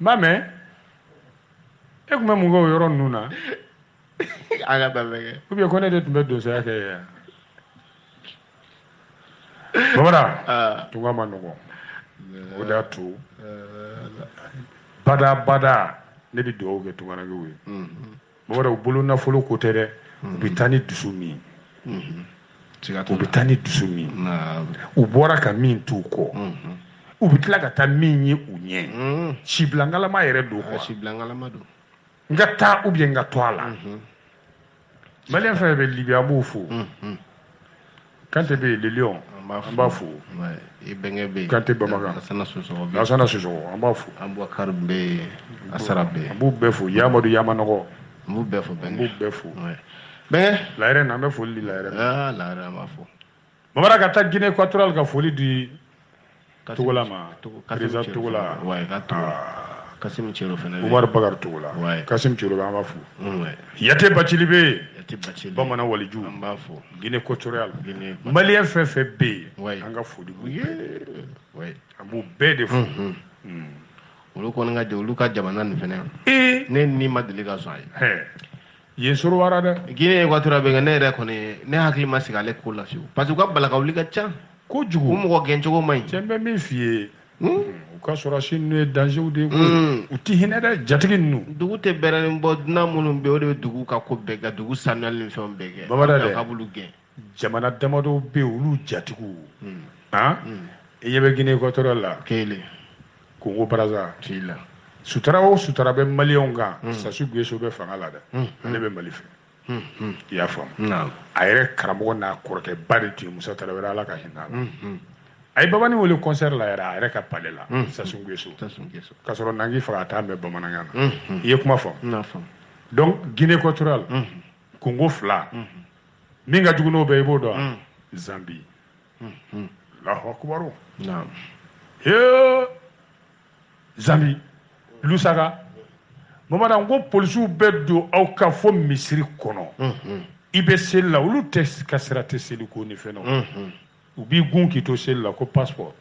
ma mɛ e tun bɛ mun kɛ o yɔrɔ ninnu na a ka taa lajɛ ou bien ko ne de tun bɛ donsoya kɛ yan bamara tunga man nɔgɔn o de y'a to bada bada ne bɛ dugawu kɛ tungarankew ye Mɔgɔ bolo nafolo ko tɛ dɛ u bɛ taa ni dusu min u bɛ taa ni dusu min u bɔra ka min t'u kɔ u bɛ tila ka taa min ye u ɲɛ sibilakalama yɛrɛ don sibilakalama don n ka taa ou bien n ka to a la maliyɛn fɛn bɛ libi an b'o fo kante bɛ yen le lion an b'a fo i bɛnkɛ bɛ yen kante bamakan lasana sosoko an b'a fo abubakari bɛ yen asara bɛ yen an b'u bɛɛ fo yamadu yamanɔgɔ an b'u bɛɛ fo an b'u bɛɛ fo bɛnkɛ layɛrɛ na an bɛ foli di layɛrɛ ma layɛrɛ an b'a fo bamara ka taa guinée équatoriale ka foli di Togola ma président Togola Kasimu Cɛrɔ fana bɛ yen Umaru Bakari Togola Kasimu Cɛrɔ bɛ yen an b'a fo Yate Bacili bɛ yen bamanan waliju an b'a fo Guinée Équatoriale Maliyɛn fɛn o fɛn bɛ yen an ka foli b'u bɛɛ ye an b'u bɛɛ de fo olu kɔni ka olu ka jamana nin fana ne ni ma deli ka sɔn a ye. yen sɔrɔ wara dɛ guinée équatoriale bɛ kɛ ne yɛrɛ kɔni ne hakili ma sigi ale ko la fiyewu parce que u ka balakawuli ka ca kojugu u mɔgɔ gɛncogo man ɲi cɛ n bɛ min f'i ye hmm? u ka sɔrɔdasi ninnu ye danger de ye hmm. u ti hinɛ dɛ jatigi ninnu dugu tɛ bɛrɛni bɔ dunan minnu bɛ o de bɛ dugu ka ko bɛɛ kɛ dugu sanuyali ni fɛnw bɛɛ kɛ bamada dɛ ka b'olu gɛn jamana damadɔw bɛ yen olu jatigiw hmm. ah? hmm. i ɲɛ bɛ guinée équatoriale la kelen congo brazzaville la sutura o sutura bɛ maliyɛnw kan hmm. sassou nguesso bɛ fanga la dɛ ale bɛ mali fɛ i y'a faamu a yɛrɛ karamɔgɔ n'a kɔrɔkɛ ba de tun ye musa tarawele ala ka hinɛ a la a ye babani wele concert la yɛrɛ a yɛrɛ ka palais la sassou nguesso k'a sɔrɔ nangi faga a t'a mɛn bamanankan na i ye kuma faamu donc guinée équatoriale congo fila min ka jugu n'o bɛɛ i b'o dɔn wa zanbi alahu akubaru naam hee zanbi lusaka bamara n ko polisiw bɛ don aw ka fo misiri kɔnɔ i bɛ seli la olu tɛ ka sira tɛ seli ko ni fɛn na u b'i gun k'i to seli la ko passport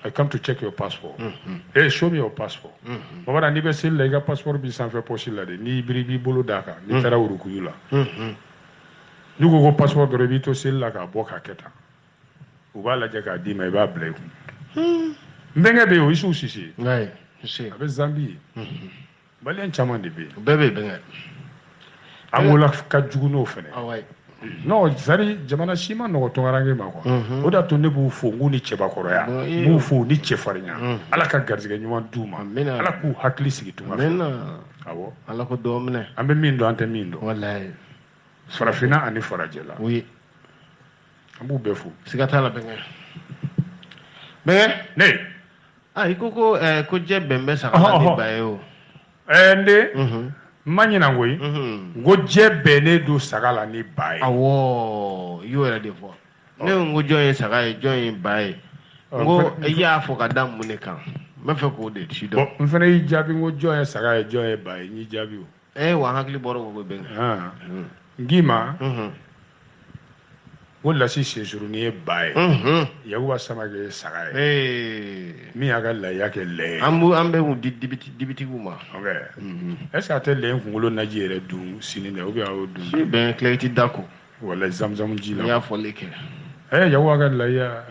I come to check your passport. Mm -hmm. Hey, show me your passport. Mm -hmm. Bamanan n'i bɛ seli la i ka passport b'i sanfɛ pɔsi la de n'i biri b'i bolo d'a kan n'i taara wurukuyu la. N'u ko ko passport dɔrɔn i b'i to seli la k'a bɔ k'a kɛ tan u b'a lajɛ k'a d'i ma i b'a bila i kun. N bɛnkɛ bɛ yen o Isufu Sise a bɛ Zanbi. Maliyɛn caman de bɛ yen. Bɛɛ bɛ yen bɛnkɛ. Angola ka jugu n'o fana. Awɔ. Non c'est-à-dire jamana si ma nɔgɔ tunkaranke ma quoi mhm. o d'a to ne b'u fo n k'u ni cɛbakɔrɔya n b'u fo ni cɛfarinya mhm. ala ka garijɛgɛ ɲuman d'u ma ala k'u hakili sigi tunga fɛ awɔ ala ko dɔ minɛ an bɛ min dɔn an tɛ min dɔn walayi farafinna ani farajɛla oui an b'u bɛɛ fo siga t'a la bɛnkɛ bɛnkɛ ne i ko ko ko jɛ bɛn bɛ saga la ni ba ye o ɛɛ n den n ma ɲinan koyi n ko jɛ bɛnnen don saga la ni ba ye awɔ i y'o yɛrɛ de fɔ ne ko n ko jɔn ye saga ye jɔn ye ba ye n ko i y'a fɔ ka da mun de kan n b'a fɛ k'o de sidɔn n fana y'i jaabi n ko jɔn ye saga ye jɔn ye ba ye n y'i jaabi o ee wa hakili bɔra o bɛ ngima ko lasi sensuruni ye ba ye yakuba samake ye saga ye min y'a ka laya kɛ lɛ ye an an bɛ kun di dibitigiw ma est ce que a tɛ lɛ kunkolo naji yɛrɛ dun sini dɛ ou bien a y'o dun si bɛn kilɛriti da ko wala zamuzamu ji la n y'a fɔ lɛkɛ ye yakuba ka laya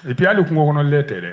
et puis hali kungo kɔnɔ lɛ tɛ dɛ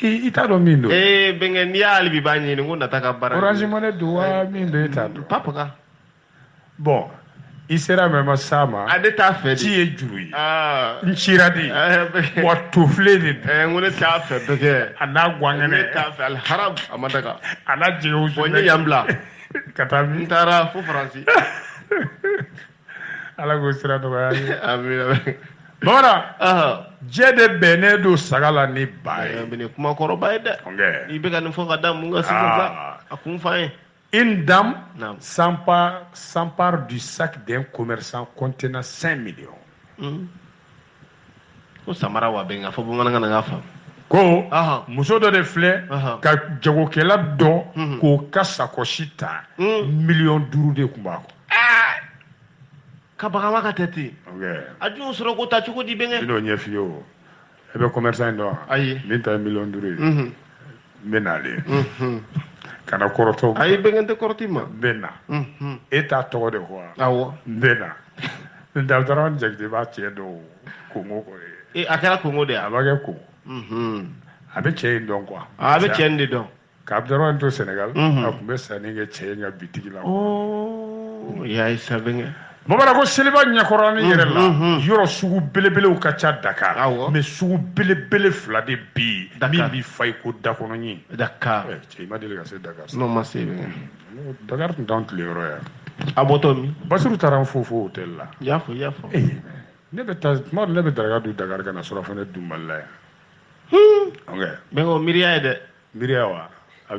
i t'a dɔn min don ee bɛnkɛ n'i hali bi b'a ɲini ko nata ka baara orange money don wa min don e t'a dɔn papa ka bon i sera mɛ ma s'a ma a ne t'a fɛ ci ye juru ye n cira de wa tofile de don ko ne t'a fɛ bɛnkɛ a n'a gwankɛnɛ ne t'a fɛ al haram a ma daga a n'a jɛgɛw bon n ye yan bila ka taa n taara fo faransi ala k'o sira nɔgɔya ye amina bamanan jɛ de bɛnnen don saga la ni ba ye nin kuma kɔrɔba ye dɛ i bɛ ka nin fɔ ka da mun kan sigi ah. a kun fa ye Une dame s'empare du sac d'un commerçant contenant 5 millions. Mmh. ko samara wa bɛnkɛ a fɔ bamanankan na n k'a faamu ko muso dɔ de filɛ ka jagokɛla dɔ mhm. k'o ka sakɔsi ta mhm. miliyɔn duuru de tun b'a kɔnɔ ah! ka bagaba ka tɛ ten a dun sɔrɔ k'o ta cogo di bɛnkɛ n'o ɲɛf'i ye o e bɛ commerçant in dɔn wa ayi min ta ye miliyɔn duuru ye mhm. n bɛ nalen kana kɔrɔtɔ ayi bɛnkɛ n tɛ kɔrɔt'i ma n bɛ na e t'a tɔgɔ de quoi awɔ n bɛ na Abudurahmani jakite b'a cɛ dɔn kongo kɔ ye a kɛra kongo de ye a b'a kɛ kongo a bɛ cɛ in dɔn quoi a bɛ cɛ in de dɔn ka abudurahmani to sɛnɛgali a tun bɛ sanni kɛ cɛ in ka bitigi la o y'a ye sa bɛnkɛ Bamanan ko seliba ɲɛkɔrɔ ni yɛrɛ la yɔrɔ sugu belebelew ka ca Dakar mais sugu belebele fila de bi yen min bɛ fa i ko da kɔnɔ ɲin Dakar cɛ i ma deli ka se Dakar n ma se Dakar tun dan tile yɔrɔ yan a bɔtɔ Basiru taara n fo fo hôtel la y'a fɔ y'a fɔ ne bɛ taa tuma ne bɛ daraka dun Dakar ka na surɔfana in dun n bara yan miiriya ye dɛ miiriya wa a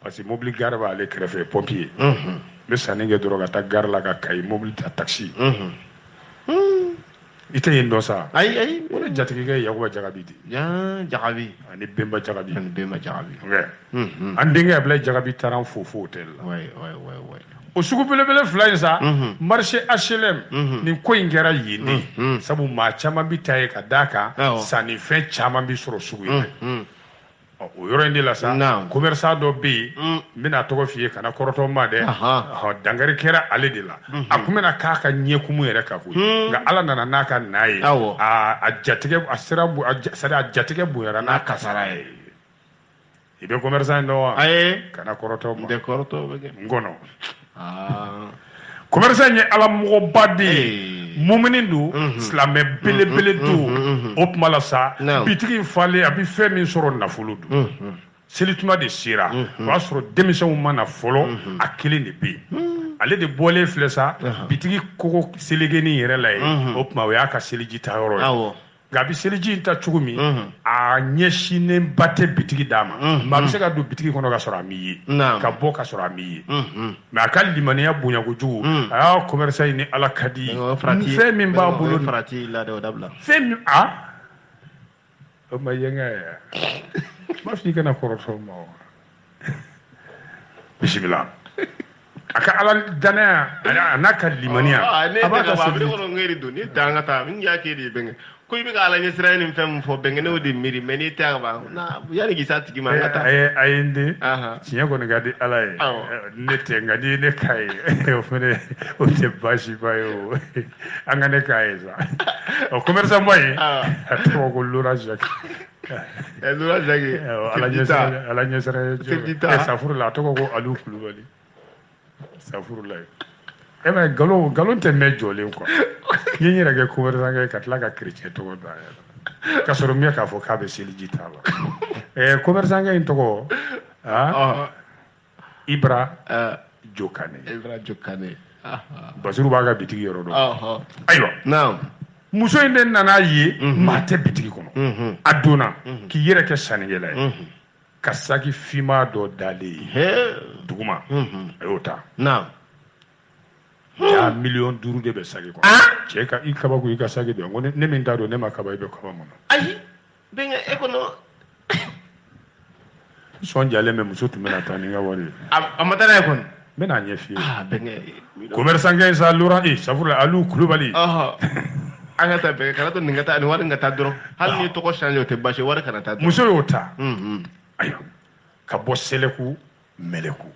parce que mobili gare b'ale kɛrɛfɛ pompier n bɛ sanni kɛ dɔrɔn ka taa gare la ka Kayi mobili ta taxi i tɛ yen dɔn sa ayi ayi o de jatigikɛ yakuba jagabi di jagabi ani benba jagabi ani benba jagabi an denkɛ Ablaye jagabi taara an fo fo hôtel la o sugu belebele fila in sa marché HLM nin ko in kɛra yen de sabu maa caman bi taa yen ka d'a kan sannifɛn caman bi sɔrɔ sugu in na Ɔ, o yɔrɔ in de la sa Naam. commerçant dɔ bɛ yen Mm. n bɛn'a tɔgɔ f'i ye kana kɔrɔtɔ n ma dɛ Ahan. Ɔhɔ, dankari kɛra ale de la a tun bɛna k'a ka ɲɛkumu yɛrɛ ka koyi Hmm. nka ala nana n'a kana ye Awɔ. a a jatigɛ a sera bo- a ja- c'est à dire a jatigɛ bonyara n'a kasara ye i bɛ commerçant in dɔn wa ayi kana kɔrɔtɔ n ma tɛ kɔrɔtɔ bɛ kɛ n kɔnɔ ah. commerçant ye ala mɔgɔba de ye mumini don mhm. silamɛ mhm. belebele mhm. don o tuma la sa bitigi falen a bɛ fɛn min sɔrɔ nafolo don selituma de sera o y'a sɔrɔ denmisɛnw ma na fɔlɔ a kelen de bɛ yen ale de bɔlen filɛ sa bitigi kogo selekenin yɛrɛ la yen o tuma o y'a ka seliji ta yɔrɔ ye nka a bɛ seliji in ta cogo min a ɲɛsinnen ba tɛ bitigi da ma maa bɛ se ka don bitigi kɔnɔ ka sɔrɔ a m'i ye ka bɔ ka sɔrɔ a m'i ye mais a ka limaniya bonyakojugu a y'a commerçant ye ni ala ka di ye fɛn min b'a bolo fɛn min o ma ye nka yɛrɛ ma f'i kana kɔrɔtɔ n ma bisimila a ka ala danaya a n'a ka limaniya ah, a b'a ka sabali kɔnɔ ngeri don ni dan ka taa min y'a k'e de ye bɛnkɛ ko i bɛ ka ala ɲɛsiran ni fɛn min fɔ bɛnkɛ ne y'o de miiri mais n'i tɛ a ba yanni k'i s'a tigi ma an ka taa eh, a ye n den tiɲɛ kɔni ka di ala ye eh, ne tɛ nka n'i ye ne k'a ye eh, o fana o tɛ baasiba ye o an ka ne k'a ye sa ɔ commerçant ba in a tɔgɔ ko Laurent Jacques ɛ Laurent Jacques ala ɲɛsiran ala ɲɛsiran ye safurula a tɔgɔ ko alu kulubali safurulayi e ma nkalon nkalon tɛ mɛn jɔlen quoi n'i yɛrɛ kɛ commerçant kɛ ka tila ka chrétien tɔgɔ da a yɛrɛ ka sɔrɔ n bɛ k'a fɔ k'a bɛ seliji ta la ɛɛ commerçant kɛ in tɔgɔ aa Ibra uh, Jokane. Ibra Jokane. Uh -huh. Basiru b'a ka bitigi yɔrɔ dɔn. Uh -huh. Ayiwa. Naamu. Muso in de nana ye mm -hmm. maa tɛ bitigi kɔnɔ. Mm -hmm. A donna mm -hmm. k'i yɛrɛ kɛ sannikɛla ye. Mm -hmm. Ka saki finman dɔ dalen ye. Duguma. Mm -hmm. A y'o ta. Naamu. jaa hmm. miliyɔn duuru de bɛ saki kɔnɔ ah! cɛ ka i kaba ko i ka saki don ko ne min ta don ne ma kaba i bɛ kaba mun na ayi bɛnkɛ e kɔnɔ sɔn jalen bɛ muso tun bɛna taa ni n ka wari ye a ma taa n'a ye kɔni n bɛna a ɲɛf'i ye commerçantkɛ in sa lora e safurula alu kulubali an ka taa bɛnkɛ kana to nin ka taa nin wari in ka taa dɔrɔn hali n'i tɔgɔ change o tɛ basi ye wari kana taa dɔrɔn muso y'o ta ayiwa ka bɔ sɛlɛku mɛlɛku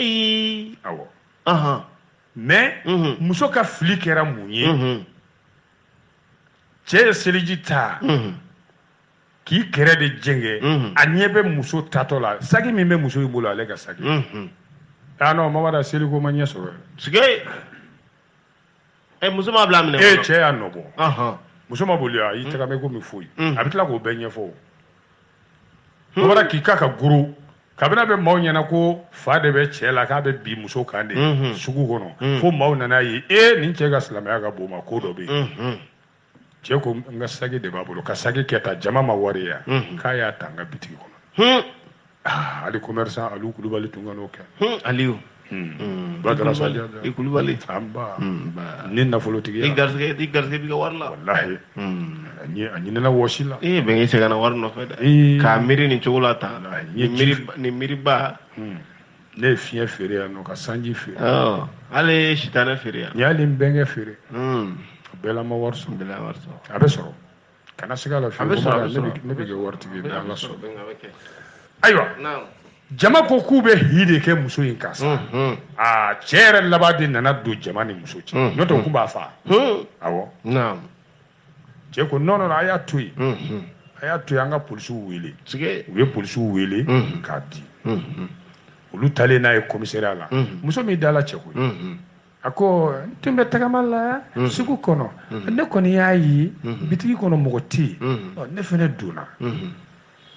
awɔ mais muso ka fili kɛra mun ye cɛ ye seliji ta k'i kɛrɛ de jɛngɛ a ɲɛ bɛ muso taatɔ la saki min bɛ muso in bolo ale ka saki aa non mama da seliko ma ɲɛ sɔrɔ sike ɛ muso ma bila minɛ e cɛ y'a nɔbɔ muso ma boli a y'i tagama komi foyi a bɛ tila k'o bɛɛ ɲɛfɔ bɔra k'i ka ka guru ka bin a bɛ maaw ɲɛna ko fa de bɛ cɛ la k'a bɛ bin muso kan de sugu kɔnɔ fo maaw nana ye e nin cɛ ka silamɛya ka bon o ma ko dɔ bɛ yen cɛ ko n ka saki de b'a bolo ka saki kɛ ta jama ma wari yan k'a y'a ta n ka bitigi kɔnɔ ali commerçant alu kulubali tun kan'o kɛ ali Hmm. badara saja i kulubali anba hmm, nin nafolotigi i garisɛgɛ i garisɛgɛ b'i ka wari la walahi hmm. a ɲinɛna wɔsi la ee bɛn i sɛgɛnna wari nɔfɛ dɛ k'a miiri nin cogo la tan nin miiriba ne ye fiɲɛ feere yan nɔ ka sanji feere hali n ye sitanɛ feere yan n y'ali n bɛnkɛ feere a bɛɛ la n ma wari sɔrɔ a bɛ sɔrɔ kana siga a la fiyewu ne bɛ kɛ waritigi ye n'ala sɔnna ayiwa jama ko k'u bɛ hi de kɛ muso in kan sa aa cɛ yɛrɛ laban de nana don jama ni muso cɛ n'o tɛ u tun b'a faa awɔ cɛ ko non non a y'a to yen a y'a to yen an ka polisiw wele u ye polisiw wele k'a di olu taalen n'a ye komisariya la muso m'i dalacɛ koyi a ko n tun bɛ tagama la mm-hmm. sugu kɔnɔ mm-hmm. ne kɔni y'a ye mm-hmm. bitigi kɔnɔ mɔgɔ tɛ yen ne fana donna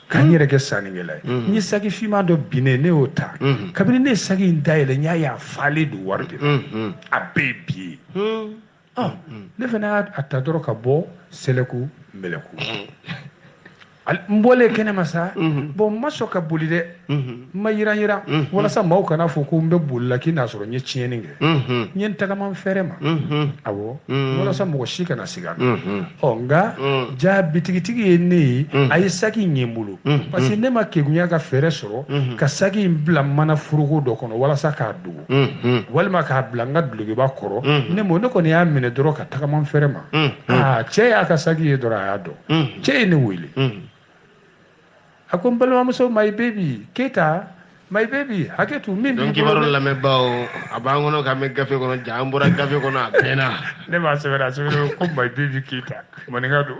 ka n yɛrɛ kɛ sannikɛla ye n ye saki finman dɔ binnen ne y'o ta kabini ne ye saki in dayɛlɛ n y'a ye a falen don wari de la a bɛɛ ye biye ne fana y'a ta dɔrɔn ka bɔ sɛlɛku mɛlɛku n bɔlen kɛnɛ ma sa mhm. bon n ma sɔn ka boli dɛ mhm. n ma yiran yiran mhm. walasa maaw kana a fɔ ko n bɛ boli la k'i n'a sɔrɔ n ye tiɲɛni kɛ n ye n tagama n fɛrɛ ma awɔ walasa mɔgɔ si kana siga n na ɔ nka ja bitigitigi ye ne ye a ye saki in ye n bolo parce que ne ma kegunya ka fɛɛrɛ sɔrɔ ka saki in bila mana foroko dɔ kɔnɔ walasa k'a dogo walima k'a bila n ka dulokiba kɔrɔ ne ne kɔni y'a minɛ dɔrɔn ka tagama n fɛrɛ ma aa cɛ y'a ka saki ye dɔrɔn a y'a dɔn cɛ ye ne wele a ko n balimamuso mayi bebi keyita mayi bebi hakɛ to min b'i bolo kibaru lamɛnbaaw a b'an kɔnɔ k'an bɛ gafe kɔnɔ ja an bɔra gafe kɔnɔ a bɛnna ne b'a sɛbɛn a sɛbɛn ko mayi bebi keyita maninka don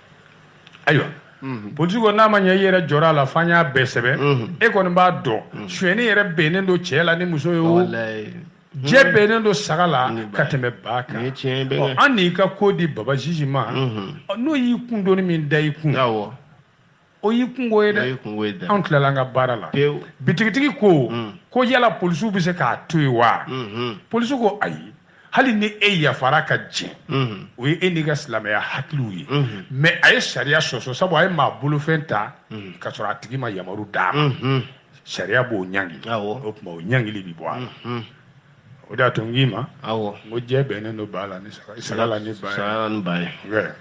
ayiwa Mhm. polisiw ko n'a ma ɲɛ i yɛrɛ jɔra a la f'an y'a bɛɛ sɛbɛn mhm. e kɔni b'a dɔn mhm. sonyɛni yɛrɛ bɛnnen don cɛ la ni muso ye o jɛ bɛnnen don saga la ka tɛmɛ ba kan an n'i ka ko di baba jiji ma n'o y'i kun doni min da i kun o y'i kungo ye dɛ anw tilala an ka baara la bitigitigi ko mm. ko yala polisiw bɛ se k'a to yen wa mm-hmm. polisiw ko ayi hali ni e yafara ka jɛn mm-hmm. o ye e n'i ka silamɛya hakili ye mm-hmm. mɛ a ye sariya sɔsɔ sabu a ye maa bolofɛn ta ka sɔrɔ a tigi ma yamaru d'a ma sariya b'o ɲangi o tuma o ɲangili bɛ bɔ a la o de y'a to n k'i ma n ko jɛ bɛnnen don ba la ni saga la ni ba ye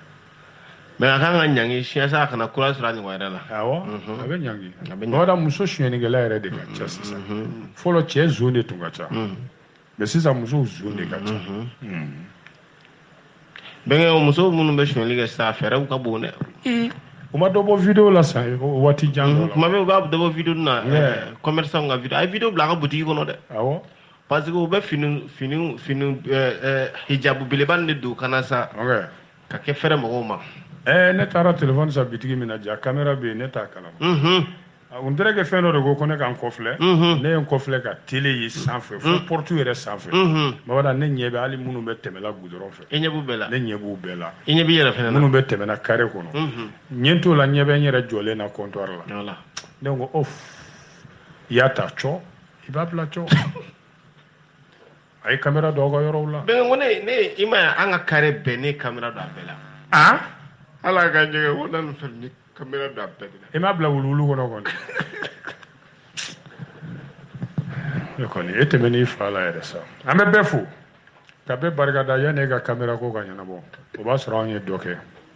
mɛ a ka ɲangi yaasa a kana kura sɔrɔ a ɲɔgɔn wɛrɛ la awɔ a bɛ ɲangi bawada muso sonyɛnikɛla yɛrɛ de ka ca sisan fɔlɔ cɛ zon de tun ka ca mɛ sisan muso zon de ka ca bɛnkɛ musow minnu bɛ sonyɛli kɛ sisan fɛɛrɛw ka bon dɛ u ma dɔ bɔ video la sa waati jan kuma bɛɛ u b'a dɔ bɔ video na commerçant ka video a ye video bila a ka butigi kɔnɔ dɛ awɔ parce que u bɛ fini fini fini hijabu belebani de don kana sa ka kɛ fɛrɛ mɔgɔw ma ɛɛ ne taara telefɔni san bitigi min na ja kamera bɛ yen ne t'a kalama on dirait que fɛn dɔ de ko ko ne ka n kɔfilɛ ne ye n kɔfilɛ ka tele ye sanfɛ fo porte yɛrɛ sanfɛ mabada ne ɲɛ bɛ hali minnu bɛ tɛmɛla gudɔrɔn fɛ ne ɲɛ b'u bɛɛ la i ɲɛ b'i yɛrɛ fɛnɛ minnu bɛ tɛmɛna kare kɔnɔ n ɲɛ t'o la n ɲɛ bɛ n yɛrɛ jɔlen na comptoir la ne ko o i y'a ta cogo i b'a bila cogo a ye kamera don aw ka yɔrɔw la bɛnkɛ ko ne ne i ma ye an ka kare bɛɛ ne kamera don a bɛɛ la a ala ka jɛgɛ ko na nin fɛn ni kamera don a bɛɛ de la i m'a bila wuluwulu kɔnɔ kɔni e kɔni e tɛmɛnen i fa la yɛrɛ sa an bɛ bɛɛ fo ka bɛɛ barikada yanni e ka kamera ko ka ɲɛnabɔ o b'a sɔrɔ anw ye dɔ kɛ